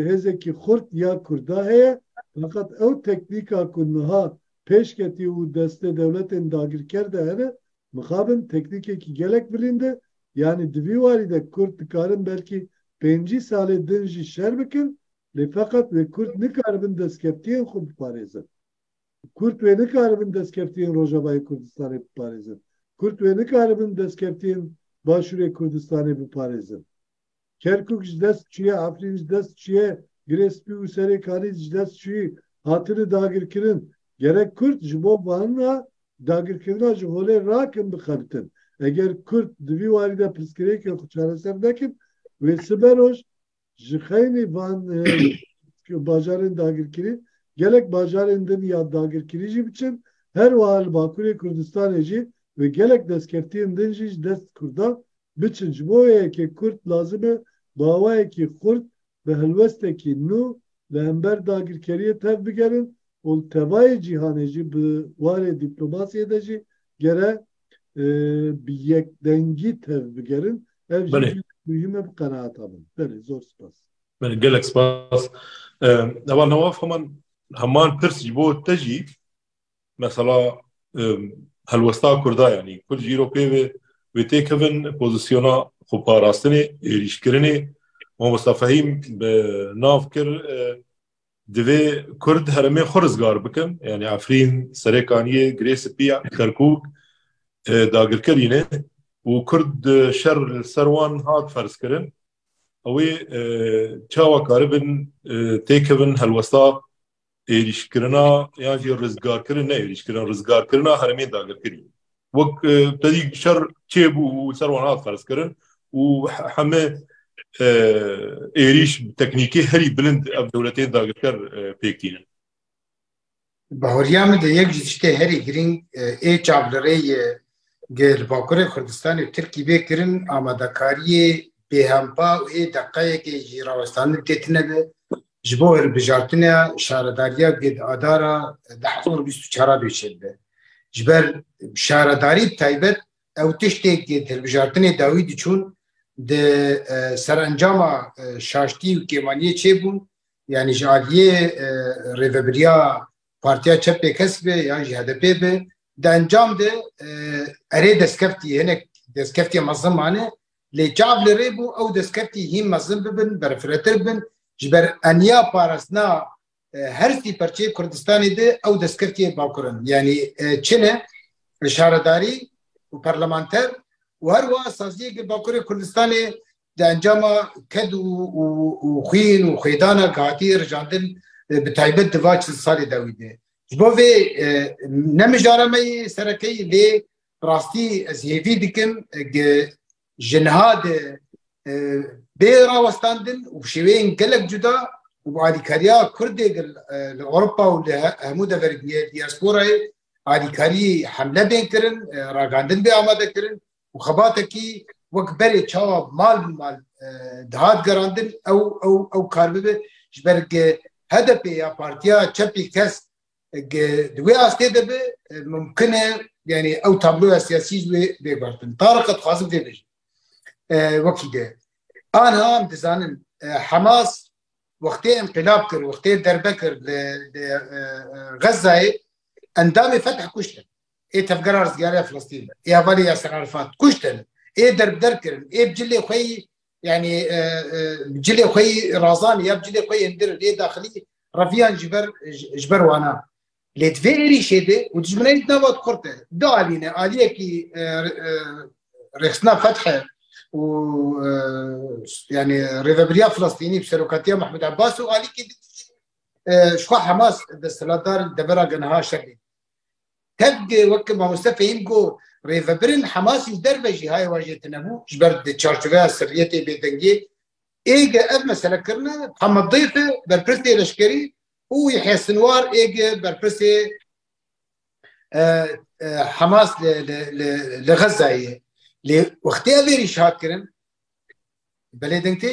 Speaker 1: hêzekî xurt ya Kurda heye feqet ew teknîka ku niha pêş ketî û destê dewletên dagirker de hene mixabin teknîkekî gelek bilînd e yanî di vî warî de Kurd dikarin belkî pêncî salê din jî şer bikin lê feqet wê Kurd nikaribin destkeftiyên xwe biparêzin. Kurd wê nikaribin destkeftiyên Rojavayê Kurdistanê biparêzin. Kurd wê nikaribin destkeftiyên Başûrê Kurdistanê biparêzin. Kerkûk ji dest çûye, Efrîn ji dest çûye, Girê Spî û Serê Kalî ji dest çûyî hatine dagirkirin. Gerek Kurd ji bo vana dagirkirina ji holê rakin bixebitin. Eger Kurd di vî warî de pirsgirêkên xwe çareser nekin, wê sibe roj, Ji xeynî van bajarên dagirkirî gelek bajarên din ya dagirkirî jî biçin, her wiha li Bakurê Kurdistanê jî wê gelek destkeftiyên din jî ji dest Kurdan biçin. Ji bo wê yekê Kurd lazim e bi awayekî xurt, bi helwestekî nû li hember dagirkeriyê tev bigerin û li tevayê cîhanê jî bi warê dîplomasiyê de jî gere bi yekdengî tev bigerin ev jî muhîme bi qenaata min belê zor spas belê gelek spas ewa newaf heman heman pirs ji bo te jî mesela helwesta kurda yanî kurd jî ro pê vê wê têkevin pozisyona xwe parastinê êrîşkirinê Momosta Fehîm bi nav kir Divê Kurd herêmê xwe rizgar bikin. Yanî Efrîn, Serêkaniyê, Girê Spî, Kerkûk dagirkerî ne û Kurd şer li ser wan hat ferzkirin. Ew ê çawa karibin têkevin helwesta êrîşkirina yan jî rizgarkirin ne êrîşkirina rizgarkirina herêmên dagirkerî. Wek tedî şer çêbû û ser wan hat ferzkirin û heme êrîş teknîkî herî bilind ev dewletên dagirker pêk tînin. Bahoriya min de yek ji tiştê herî girîng ê çav li rê yê di li Bakurê Kurdistanê û Tirkî bê kirin amadekariyê bêhempa û ê deqeyekê jî rawestandin tê tine be Ji bo hilbijartinê Şaredariya Ged Adara di hezar û bîst û çar a bê çêbibe. Ji ber şaredarî bi taybet ew tiştê ku di hilbijartinê dawî diçûn di serencama şaştî û kêmaniyê çêbûn yanî ji aliyê rêvebiriya Partiya Çep Pêkes be yan jî HDP'ê be di encam de erê destkeftî hinek destkeftî mezin mane Lê çav li rê bû ew destkeftî hîn mezin bibin, berfirehtir bibin. Ji ber eniya parastina her sî perçeyê Kurdistanê de ew destkeftî yê bakur in. Yanî çin e şaredarî û parlamenter û her wiha saziyeke bakurê Kurdistanê di encama ked û xwîn û xwêdana ku hatiye rijandin bi taybet di va çil salê dawî de. Ji bo vê ne mijara me yê serekeyî lê Bi rastî ez hêvî dikim eg ji niha de bê rawestandin û bi şêweyên gelek cuda û bi alîkariya Kurdê li Ewropa û li hemû deverê diyê diyasporayê alîkariyê hemle bên kirin, ragandin bê amade kirin û xebatekî wek berê çawa mal bi mal dihat gerandin ew ew ew kar bibe ji ber HDP'ê ya partiya çepê kes Di wê astê de bi mumkin e yani ew tabloya siyasî ji wê bê guhertin. Tariq qe dixwazim vê bêjim. Wekî de. Anha em dizanin Hemas wextê enqilab kir, wextê derbe kir li Xezzayê endamê fetih kuştin. Ê tevgera rizgariya Filistîn, ê hevalê Yaser Arafat kuştin, ê derbder kirin, ê bi cilê xwe yî yani cilê xwe yî razanî ya cilê xwe yên dir lê daxilî reviyan ji ber ji ber wan a. Lê di vê êrîşê de û tu ji min re dît nava kurd e. Du alî ne, aliyekî rêxistina feth e û yani rêvebiriya Filistînî bi serokatiya Mahmud Abbas û alîkê din jî ji xwe Hamas desthilatdar devera ge niha şerê. Tevgê weke mamoste Fehîm got, rêvebirên Hemasî û derve jî haye wa jê tinebû ji ber di çarçoveya sirriyetê bêdengê êge ev mesele kirine Muhammed Dîf e berpirsê leşkerî û Yehya Sinwar êge berpirsê Hemas li li Xezayê ye. Lê wextê ev êrîş hat kirin belê deng tê?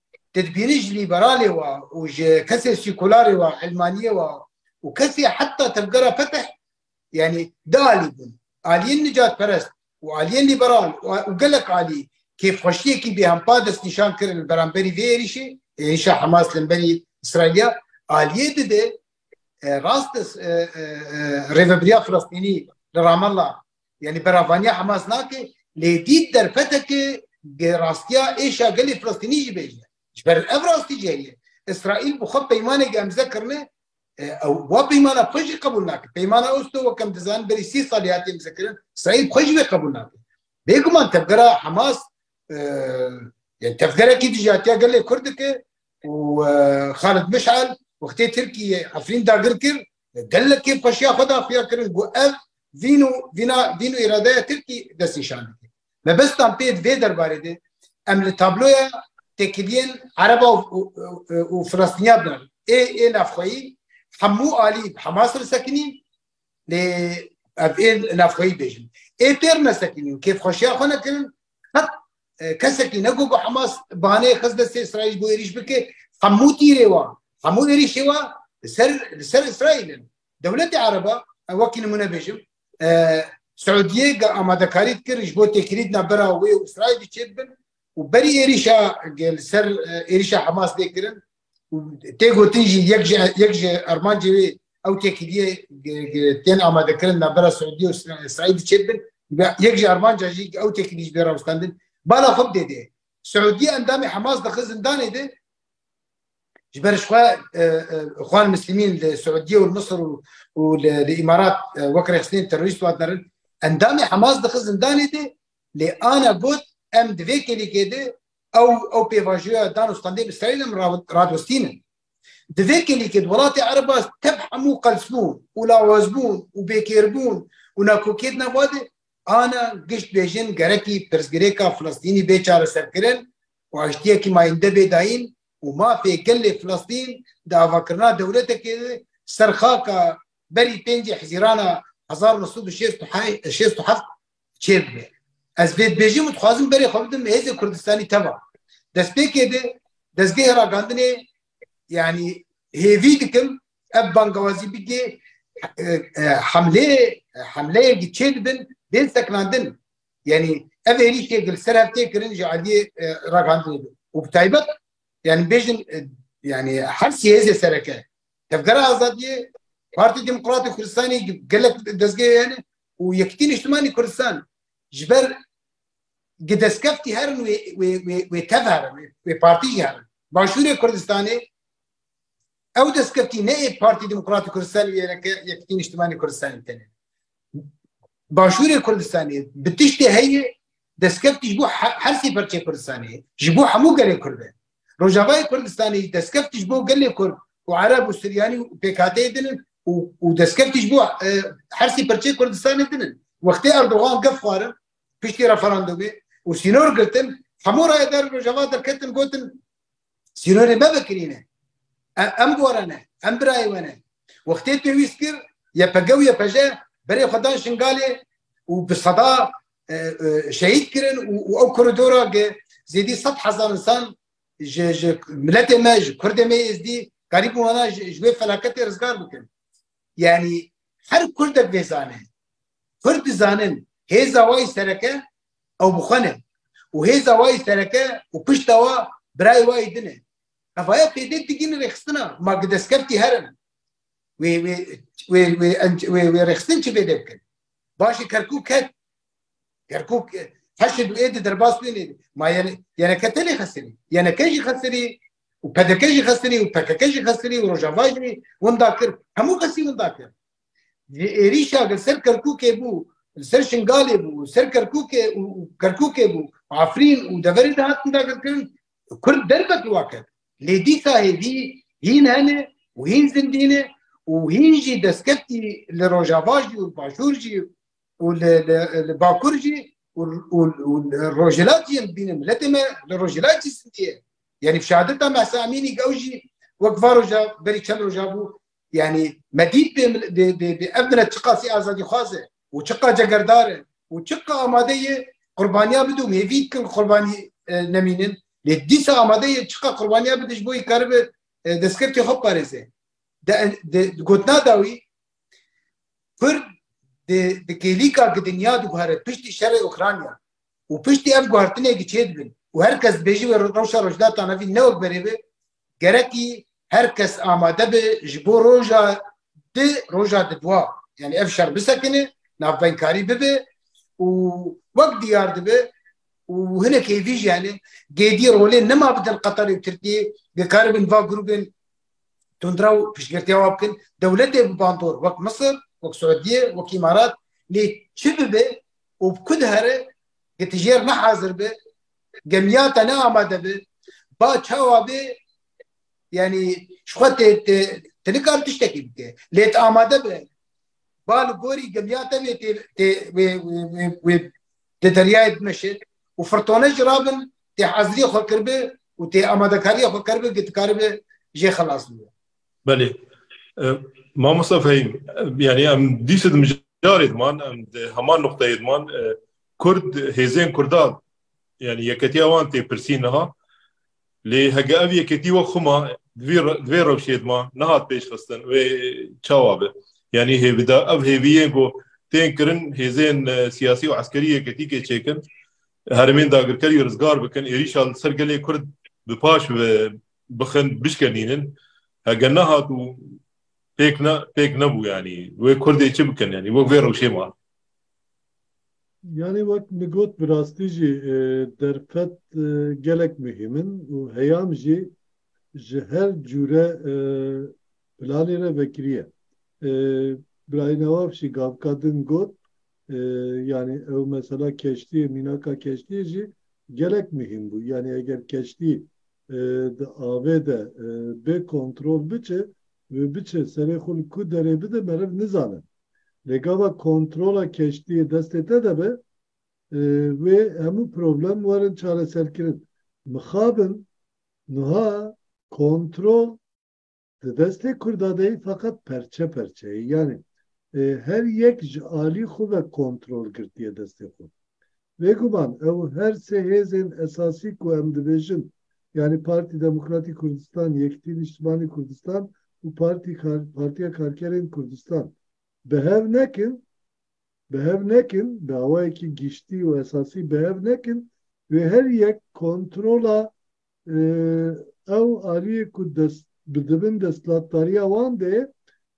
Speaker 1: tedbîrî ji lîberalê wa û ji kesê sîkularê wa, ilmaniyê wa û kesê heta tevgera Fetih yanî di alî bûn. Aliyên nicatperest û aliyên lîberal û gelek alî kêfxweşiyekî bêhempa destnîşan kirin li beramberî vê êrîşê, êrîşa Hemas li hemberî Îsraîlya. Aliyê di de rast e Rêvebiriya Filistînî li Ramallah Yani beravaniya Hamas nake lê dît derfeteke rastiya êşa gelê Filistînî jî bêje. Ji ber ev rastî jî heye. Îsraîl bi xwe peymaneke emze kirine ew wa peymana xwe jî qebûl nake. Peymana Oslo wek em dizanin berî sî salî hatiye emzekirin. Îsraîl bi xwe jî vê qebûl nake. Bêguman tevgera Hamas tevgerekî dijatiya gelê Kurd dike û Xalid Mishal wextê Tirkiyê Efrîn dagir kir Gelekê xweşiya xwe da xuya kirin ku ev vîn û vîna dîn û îradeya Tirkî dest nîşan dike. Mebestan pê di vê derbarê de em li tabloya têkiliyên Ereba û Filistîniya binan. Ê ê navxweyî hemû alî bi Hemas re sekinîn lê ev ê navxweyî bêjin. Ê pêr nesekinîn û kêfxweşiya xwe nekirin qet kesekî ne ku Hamas banê xis destê Îsraîl bû êrîş bike hemû tîrê wan hemû êrîşê wa li ser li ser Îsraîl in dewletê Ereba wekî nimûne bêjim Siûdiyê ge amadekarî dikir ji bo têkilîdna bera wê û Îsraîlî çêdibin û berî êrîşa li ser êrîşa Hamas dê kirin Tê gotin jî yek ji yek ji armancê wê ew têkiliyê tên amadekirin navbera Suudiye û Îsraîlî çêt bin yek ji armanca jî ew têkilî ji bê rawestandin bala xwe bidê dê. Suudiye endamê Hemas dixi zindanê de ji ber ji xwe xwan Mislîmîn li Suudiye û Misir û li Îmarat wek rexstinên terorîst wan derin endamê Hemas dixi zindanê de lê ana got em di vê kêlîkê de Ew ew pêvajoya dan û standê bi Îsraîlê min radostînin. Di vê kêlîkê di welatê Ereba tev hemû qelsbûn û lawazbûn û bêkêrbûn û nakokiyê dine va de ana gişt bêjin gerekî pirsgirêka Filistînî bê çareserkirin û aştiyekî mayînde bê dayîn û mafê gelê Filistîn di avakirina dewletekê de ser xaka berî pêncê Hizîrana hezar û neh sed û şêst û heft çê bibe. Ez vê dibêjim û dixwazim berê xwe bidim hêzê Kurdistanî teva. Destpêkê de dezgehê ragandinê yanî hêvî dikim ev bangewazî bigê hemlê hemleyekî çê dibin bên seknandin. Yani ev êrîşê gil ser heftê kirin ji aliyê ragandinê de. û bi taybet yani bêjin yani her siyêzê sereke tevgera azadiyê Parti Demokratê Kurdistanê gelek dezgehê hene û Yekîtî Nîştimanî Kurdistan ji ber gi destkeftî herin wê tev herin wê partî jî herin Başûrê Kurdistanê ew destkeftî ne ê Partî Demokratî Kurdistanê wêreke Yekîtî Nîştimanî Kurdistanê tenê Başûrê Kurdistanê bi tiştê heye destkeftî ji bo hersê perçê Kurdistanê ji bo hemû gelê Kurd e Rojavayê Kurdistanê jî destkev tij bo gelê Kurd û Ereb û Suryanî û PKK'ê din in û destkev tij bo hersî pirçeyê Kurdistanê din in. Wextê Erdogan gef xwarin piştî referandûmê û sînor girtin hemû rayedarên Rojava derketin gotin sînorê me vekirîne. Em gore ne, em birayê we ne. Wextê pêwîst kir YPG û YPJ berê xwe dan Şingalê û bi seda şehîd kirin û ew koridora ge zêdî sed hezar insan ji ji miletê me ji kurdê me êzdî karî bû hana ji wê felaketê rizgar bikin yanî her kurdek vê zane kurd dizanin hêza wî sereke ew bixwene û hêza wî sereke û pişta wa birayê wî dine evaya pêdek digîn rêxistina ma gi destkeftî herin wê wê wê wê wê rêxistin çi pêdek bikin Başê Kerkûk ket. Kerkûk heşê du êdî derbas wê nêdî. Ma yeneke te lê xesirî. Yeneke jî xesirî û PDK jî xesirî û PKK jî xesirî û Rojava jî winda kir. Hemû kesî winda kir. Ji êrîşa li ser Kerkûkê bû, li ser Şingalê bû, li ser Kerkûkê û Kerkûkê bû, Afrîn û deverê de hatin dagirkirin Kurd derfet li wan ket. Lê dîsa hêvî hîn hene û hîn zindî ne û hîn jî destkeftî li rojava jî û li başûr jî û li li bakur jî û û li rojhilat jî em dibînin miletê me li rojhilat jî zindî ye. Yanî şehadeta Mehsa Emînî ew jî wek va roja berî çend roja bû Yani me dît bê ev milet çiqa sî azadîxwaz e û çiqa cegerdar e û çiqa amade ye qurbaniya bide û hêvî dikin qurbanî nemînin lê dîsa amade ye çiqa qurbaniya bide ji bo wî karibe destkeftê xwe biparêze. Di gotina da wî Kurd di kêlîka ku dinya diguhere piştî şerê Ukrayna û piştî ev guhertinekî çêdibin û her kes dibêje wê rewşa rojdatan evî ne wek berê be gerekî her kes amade be ji bo roja di roja di dwa yani ev şer bisekine navbenkarî bibe û wek diyar dibe û hinek hêvî jî hene gêdî rolê nema bidin Qetarê û Tirkiyê dikaribin va grûbên tundra û piştgirtiya wan bikin dewletê bi bandor wek Misir wek Suudiyê wek Îmarat lê çi bibe û bi ku dihere getijêr nehazir be Gemiya te ne amade bi. Ba çawa bê yani ji xwe tê tê te nikar tiştekî bike. Lê tu amade bi. Ba li gorî gemiya te vê tê tê wê wê wê di deryayê bimeşe û firtone jî rabin tê heziriyê xwe kiribi û tê amadekariyê xwe kiribi ki tu karibi jê xelas bibe. Belê. Mamosta Fehîm yani em dîse di mijarê diman em di heman nuqteyê diman Kurd, hêzên Kurdan yanî yeketiya wan tê pirsîn niha. Lê heke ev yeketî wek xwe ma di vê rewşê dima nehat pêşxistin wê çawa be? Yanî hêvida ev hêviyên ku tên kirin hêzên siyasî û eskerî yeketîkê çêkin, herêmên dagirkerî rizgar bikin, êrîşa li ser gelê Kurd bi paş ve bixin, bişkenînin. Heke nehat û pêk ne pêk nebû yanî wê Kurdê çi bikin yanî wek vê rewşê ma. Yanî wek min got bi rastî jî derfet gelek muhîm in û heyam jî ji her cûre planê re vekirî ye. Birayê Newafşî gavika din got, Yanî ew mesela keştiyê, mînaka keştiyê jî gelek muhîm bû. Yanî eger keştî di avê de bê kontrol biçe û biçe serê xwe li ku derê bide meriv nizane. Lê gava kontrola keştiyê destê te de be, wê hemû problem werin çareserkirin. Mixabin nuha kontrol di destê Kurda de yê feqet perçe perçe yê. Yanî her yek ji alî xwe ve kontrol girtiye destê xwe. Bêguman ew her sê hêzên esasî ku em dibêjin, yanî Partî Demokratî Kurdistan, Yekîtî Nîştimanî Kurdistan û Partî Kar Partîya Karkerên Kurdistan bi hev nekin, bi hev nekin, bi awayekî giştî û esasî bi hev nekin, wê her yek kontrola ew aliyê ku dest bi dibin destlatdariya wan de ye,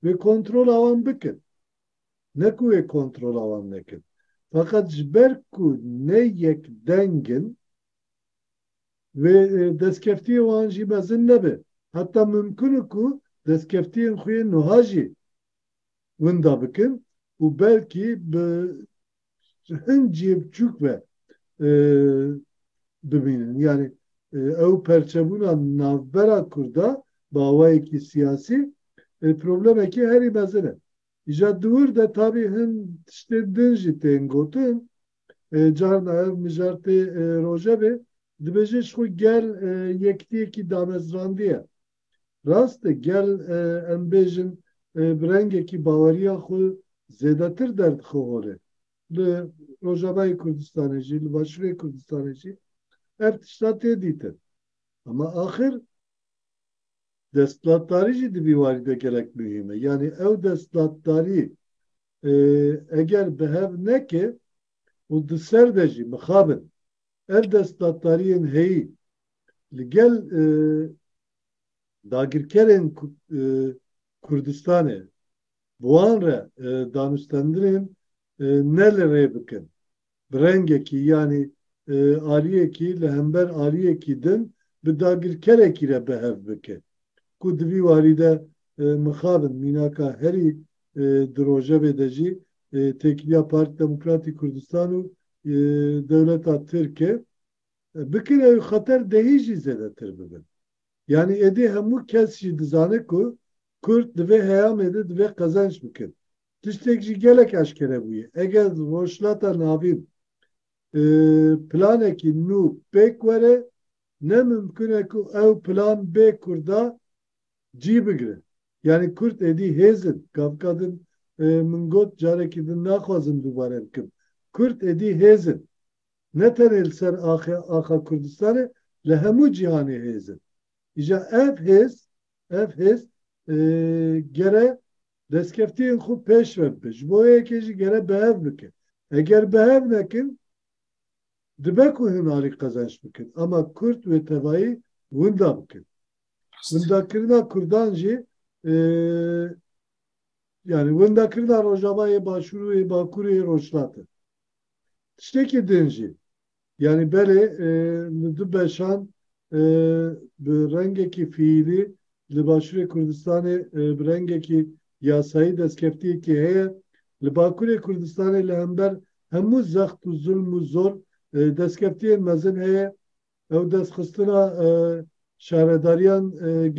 Speaker 1: wê kontrola wan bikin. ne ku wê kontrola wan nekir. Feqet ji ber ku ne yek deng in, wê destkeftiyê wan jî mezin nebe. Heta mimkun e ku destkeftiyên xwe yên nuha jî winda bikin û belkî bi hin cihê biçûk ve bimînin. Yanî ew perçebûna navbera Kurda bi awayekî siyasî problemekî herî mezin e. Îja diwir de tabî hin tiştê din jî tên gotin. Carna ev mijartê rojevê dibêje ji xwe gel yektiyekî damezrandiye. Rast e gel em bêjin bi rengekî baweriya xwe zêdetir derdixe holê. Li Rojavayê Kurdistanê jî, li Başûrê Kurdistanê jî ev tişta tê dîtin. Hema axir. Desthilatdarî jî di vî warî de gelek muhîm e. Yanî ew desthilatdarî eger bi hev neke û di ser de jî mixabin ev desthilatdariyên heyî li gel dagirkerên Kurdistanê bi wan re danûstendinên ne li rê bikin bi rengekî yanî aliyekî li hember aliyekî din bi dagirkerekî re behev bike ku di vî warî de mixabin mînaka herî di rojevê de jî têkiliya Partî Demokratî Kurdistan û dewleta Tirk e bikin ew xeter dehî jî zêdetir bibin. Yanî êdî hemû kes jî dizane ku Kurd di vê heyamê de divê qezenç bikin. tiştek jî gelek eşkere bûye. Eger di Rojhilata Navîn planekî nû pêk were, ne mimkun e ku ew plan bê Kurda cî bigire. Yanî Kurd êdî hêz in. Gavika din min got, carekî din naxwazim dubare bikim. Kurd êdî hêz in. Ne tenê li ser axa Kurdistanê, li hemû cîhanê hêz in. Îja ev hêz, ev hêz gere Destkeftiyên xwe pêş ve bibe. Ji bo wê yekê jî gere bi hev bikin. Eger bi hev nekin, dibe ku hûn alî qezenç bikin. Ama Kurd wê tevayî winda bikin. Windakirina Kurdan jî yanî windakirina Rojava yê Başûr û yê Bakur û yê Rojhilat e. Tiştekî din jî Yanî belê li du beşan bi rengekî fiîlî li Başûrê Kurdistanê bi rengekî yasayî destkeftiyekî heye, li Bakurê Kurdistanê li hember hemû zext û zulm û zor destkeftiyên mezin heye. Ew destxistina şaredariyan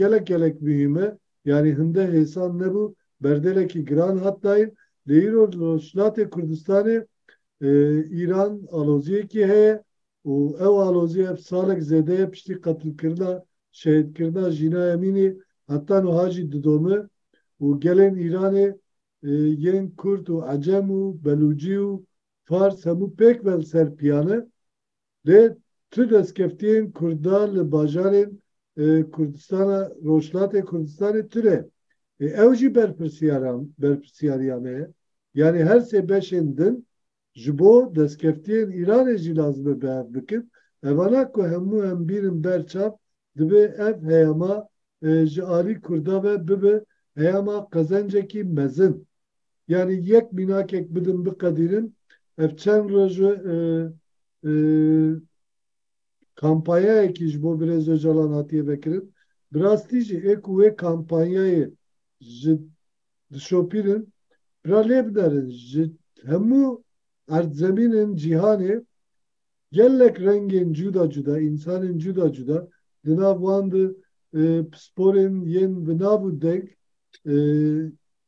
Speaker 1: gelek gelek muhîm e. Yanî hinde hêsan nebû, berdêlekî giran hat dayin lê îro li Rojhilatê Kurdistanê Îran aloziyekî heye û ew alozî ev salek zêde ye piştî qetilkirina, şehîdkirina Jîna Emînî heta nuha jî didome û gelên Îranê yên Kurd û Ecem û Belûcî û Fars hemû pêk ve li ser piyane Lê tu destkeftiyên Kurda li bajarên Kurdistana Rojhilatê Kurdistanê tune. Ê ew jî berpirsyariya me ye. Yanî her sê beşên din ji bo destkeftiyên Îranê jî lazim e behev bikin. Evana ku hemû em bînin ber çav dibe ev heyama ji alî Kurda ve bibe heyama qezencekî mezin. Yanî yek mînakek bidin biqedînin ev çend roj e kampanyayekî ji bo Birêz Ocalan hatiye vekirin. Bi rastî jî ê ku wê kampanyayê ji dişopînin bira lê binerin ji hemû erdzemînên cîhanê gelek rengên cuda cuda, însanên cuda cuda di nav wan de pisporên yên bi nav û deng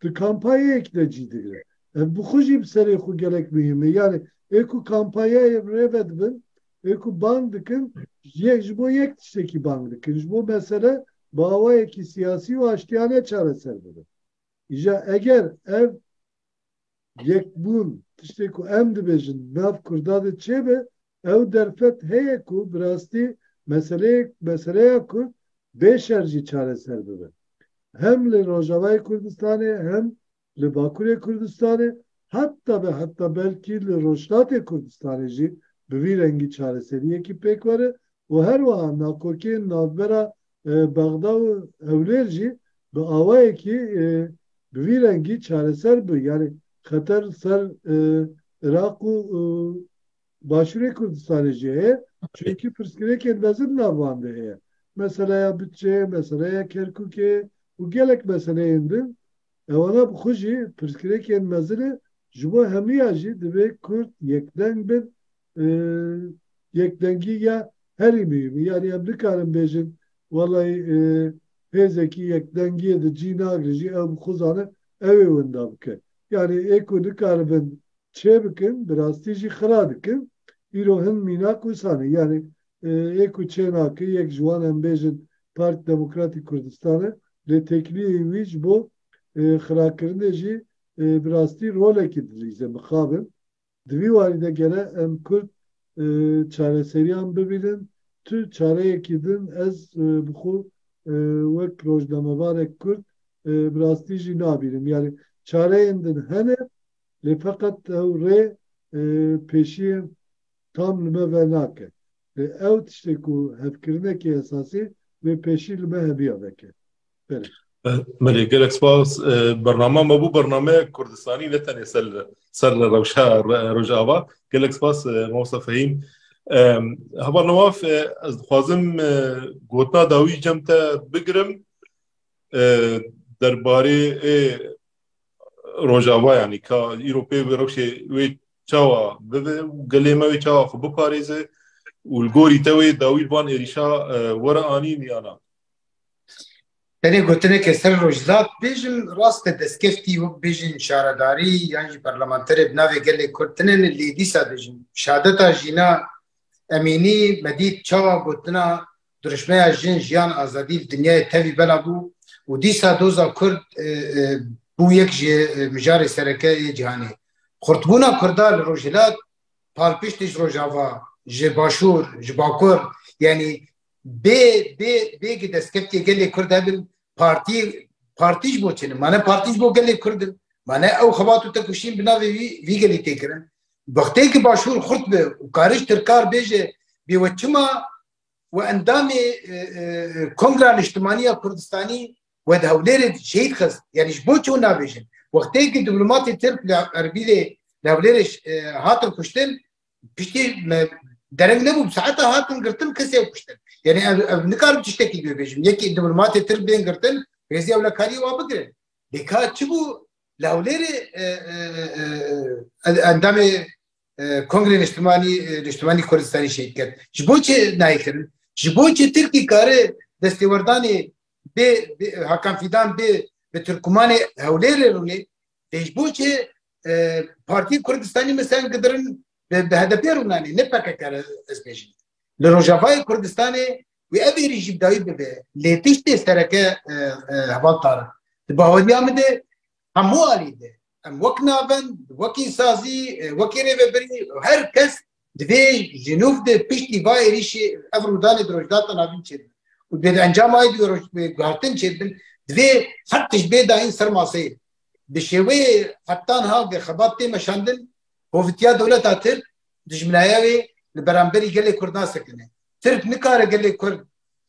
Speaker 1: di kampayeyek de cî digire. Ev bi xwe jî bi serê xwe gelek muhîm e. Yanî ê ku kampayeyê bi rê ve dibin, ê ku bang dikin yek ji bo yek tiştekî bang dikin. Ji bo mesele bi awayekî siyasî û aştiyane çareser bibin. Îja eger ev yekbûn tiştê ku em dibêjin di nav Kurda de çêbe Ew derfet heye ku bi rastî meseleyê meseleya kurd bê şer jî çareser bibe. Hem li Rojavayê Kurdistanê hem li Bakurê Kurdistanê heta be heta belkî li Rojhilatê Kurdistanê jî bi vî rengî çareseriyekî pêk were û her wiha nakokiyên navbera Bexda û Hewlêr jî bi awayekî bi vî rengî çareser bi yanî xeter li ser Iraq û Başûrê Kurdistanê jî heye çunkî pirsgirêkên mezin nav wan de heye. Meseleya budçeyê, meseleya Kerkûkê û gelek meseleyên din. Ewana bi xwe jî pirsgirêkên mezin e, ji bo hemûyan jî divê Kurd yekdeng bin. Yekdengî ya herî muhîm e. Yanî em nikarin bêjin welay hêzekî yekdengiyê di cî nagrin jî ew bi xwe zane ew ê winda bike. Yanî ê ku nikaribin çê bikin bi rastî jî xira dikin. Îro hin mînak wisa ne. Yanî ê ku çê nake yek ji wan em bêjin Partî Demokratîk Kurdistan e. Lê têkiliyeyî wî ji bo xirakirinê jî bi rastî rolekî dilîze. Mixabin di vî warî de gere em Kurd çareseriyan bibînin. Tu çareyekî din ez bi xwe wek rojnamevarek Kurd bi rastî jî nabînim. Yanî çareyên din hene. lê feqet ew rê pêşiyên tam li me ve nake. Lê ew tiştê ku hevkirinekî esasî wê pêşî li me heviya veke. Berê. Belê gelek spas. Bernama me bû bernameyek kurdistanî ne tenê ser ser li rewşa Rojava. Gelek spas Mamosta Fehîm. Heval Newaf ez dixwazim gotina dawî cem te bigirim derbarê ê Rojava yanî ka îro pê bi rewşê wê çawa bibe û gelê me wê çawa xwe biparêze û li gorî te wê dawî van êrîşa were anîn ya na. Tenê gotineke ser Rojhilat bêjim rast e destkeftî wek bêjin şaredarî yan jî parlamenterê bi navê gelê Kurd tune ne lê dîsa dijim şadeta jîna Emînî me dît çawa gotina Dirûşmeya Jin, Jiyan, Azadî li dinyayê tevî bela bû û dîsa doza Kurd bû yek ji mijarê sereke yê cîhanê. Xurtbûna Kurda li Rojhilat palpiştî ji Rojava, ji Başûr, ji Bakur yanî bê bê bêgî destkeftiyê gelê Kurd hebin partî partî ji bo çi ne? Ma ne partî ji bo gelê Kurd in. Ma ne ew xebat û têkoşîn bi navê wî vî gelî tê kirin. Wextê ku Başûr xurt be û karij tirkar bêje bê we çima û endamê Kongra Niştimanî ya Kurdistanî we di Hewlêrê şehîd xist. Yanî ji bo çi hûn nabêjin? Wextê ku diplomatê Tirk li Erbîlê li Hewlêrê hatin kuştin piştî me dereng nebû bi saeta hatin girtin kesê kuştin. Yanî ev nikarim tiştekî li wê bêjim. Yekî diplomatê Tirk bên girtin rêzî ewlekariyê wan bigirin. Lê ka çi bû li Hewlêrê endamê Kongrê Niştimanî Niştimanî Kurdistanî şehîd kir. Ji bo çi nayê kirin? Ji bo çi Tirkî kare destêwerdanê bê Hakan Fîdan bê bi Tirkmanê Hewlêrê rûnê dê ji bo çi Partiyê Kurdistanî misan gidirin bi HDP rûnanê ne PKK re ez bêjim. Li Rojavayê Kurdistanê wê ev êrî jî dawî bibe. Lê tiştê sereke heval Tarik di baweriya min de hemû alî de Em wek navend, wekî sazî, wekî rêvebirî her kes divê ji nûv de piştî va êrîşê ev rûdanê di rojdata navîn çêbin û dê di encama wê divê roj guhertin çêbin divê her tişt bê dayîn ser maseyê bi şêweyê heptan ha vê xebat tê meşandin hovitiya dewleta tirk dijminaya wê li beramberî gelê kurd nasekine tirk nikare gelê kurd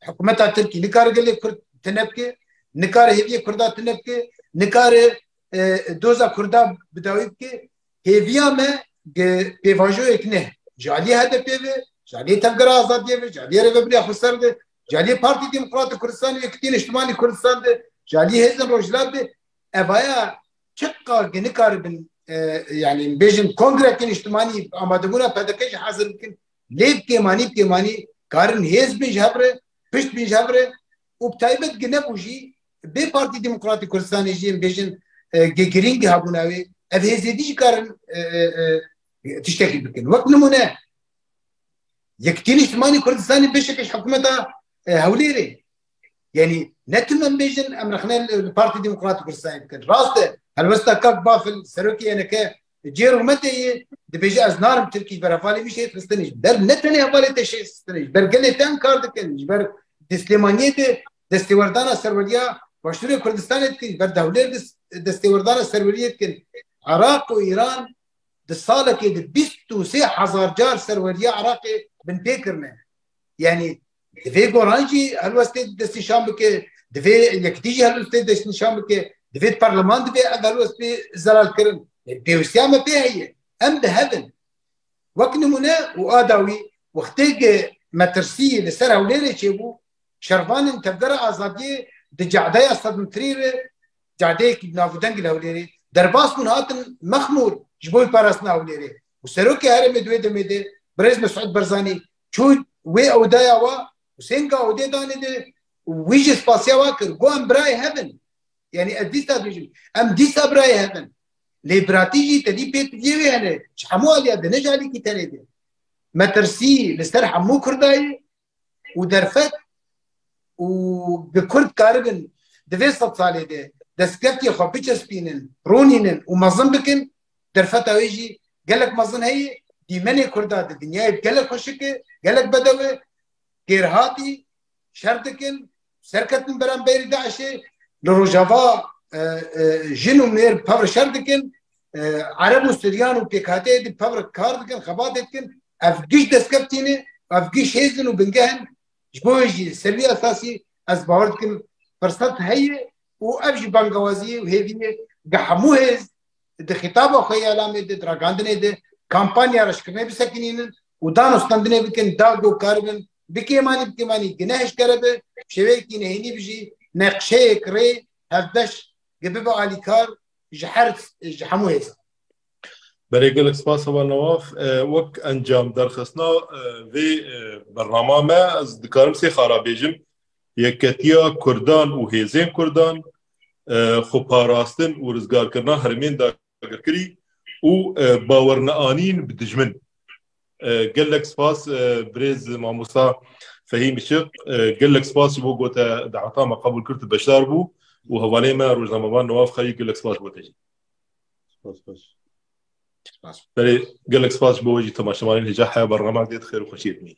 Speaker 1: hikûmeta tirkî nikare gelê kurd tinebke nikare hêviyê kurda tinebke nikare Doza Kurda bi dawî bike hêviya me pêvajoyek ne ji aliyê HDP ve ji aliyê Tevgera Azadiyê ve ji aliyê Rêveberiya Xweser de ji aliyê Partî Demokratîk Kurdistanê û Yekitî Niştimanî Kurdistan de ji aliyê hêzên Rojhilat de evaya çiqa ke nikaribin yanî bêjin kongrekê niştimanî amadebûna PDK jî hezir bikin lê bi kêmanî bi kêmanî karin hêz bin ji hev re pişt bin ji hev re û bi taybet ki nebû jî Bê Partî Demokratî Kurdistanê jî em bêjin gê girîngî hebûna wê ev hêzêdî jî karin tiştekî bikin. Wek nimûne Yekîtî Nîştimanî Kurdistanê beşekî ji hikûmeta Hewlêrê yanî ne tim em bêjin em rexne li Partî Demokratî Kurdistanê bikin. Rast e helwesta Kak Bafil serokê YNK cê rûmetê yê dibêje ez narim Tirkî ji ber hevalê wî şêt xistinê ji ber ne tenê hevalê te şêt xistinê ji ber gelê te em kar dikin ji ber di Silêmaniyê de Destêwerdana serweriya Başûrê Kurdistanê dikin, ber Dewlêr destêwerdana serweriyê dikin. Iraq û Îran di salekê de bîst û sê hezar car serweriya Iraqê binpê kirine. Yanî di vê goran jî helwestê destnîşan bike, di vê yekitî jî helwestê destnîşan bike, di vê parleman divê ev helwest bê zelalkirin. Pêwîstiya me pê heye. Em di hev in. Wek nimûne û a dawî wextê ke metirsî li ser Hewlêrê çêbû Şervanên Tevgera Azadiyê di Ce'deya Sedmitirî re, ce'deyekî bi navûdeng li Hewlêrê, derbas bûn hatin Mexmûr ji bo wî parastina Hewlêrê û Serokê herêmê di wê demê de Birêz Mesûd Barzanî çû wê ewdaya wa û seng a odê danê de û wî jî spasiya wa kir got em birayê hev in. Yanî ez dîsa dibêjim em dîsa birayê hev in. Lê biratî jî tedî pê tiviyê wê hene ji hemû aliya de ne ji alîkî tenê de. Me tirsî li ser hemû Kurdayê û derfet û bi Kurd karibin di vê sed salê de destkeftiyê xwe biçespînin, ronînin û mezin bikin, derfeta wê jî gelek mezin heye, dîmenê Kurda di dinyayê gelek xweşik e, gelek bedew e, kêrhatî, şer dikin, Serketin beramberî DAIŞ'ê li Rojava jin û mêr bi pevr şer dikin, Ereb û Suryan û pêkhateyê di pevr kar dikin, xebatê dikin. Ev giş destkev tîne, ev giş hêz in û bingeh in. Ji bo wê jî li ser vî esasî ez bawer dikim firsat heye û ev jî bangewazî ye û hêvî ye bi hemû hêz di xîtaba xwe yê elamê de, di ragandinê de kampanya reşkirinê bisekinînin û danûstandinê bikin, dag û kar bin Bi kêmanî bi kêmanî gineh eşkere bi, bi şêweyekî nehênî bi jî neqşeyek rê hevbeş gi bibe alîkar ji her ji hemû hêzan. Berê gelek spas heval Nawaf. Wek encam derxistina vê bernaman me ez dikarim sê xara bêjim, Yekketiya Kurdan û hêzên Kurdan, xweparastin û rizgarkirina herêmên dagirkirî û bawerneanîn bi dijmin. Gelek spas birêz mamosta Fehîm Işiq, gelek spas ji bo ku te daweta me qebûl kir tu beşdar bû û hevalên me rojnamevan Newaf Xelîl gelek spas bo te jî. Spas baş. Spas. Berê gelek spas ji bo we jî temaşevanên Hêja Heya Barnamek dê di xêr û xweşiyê de bînin.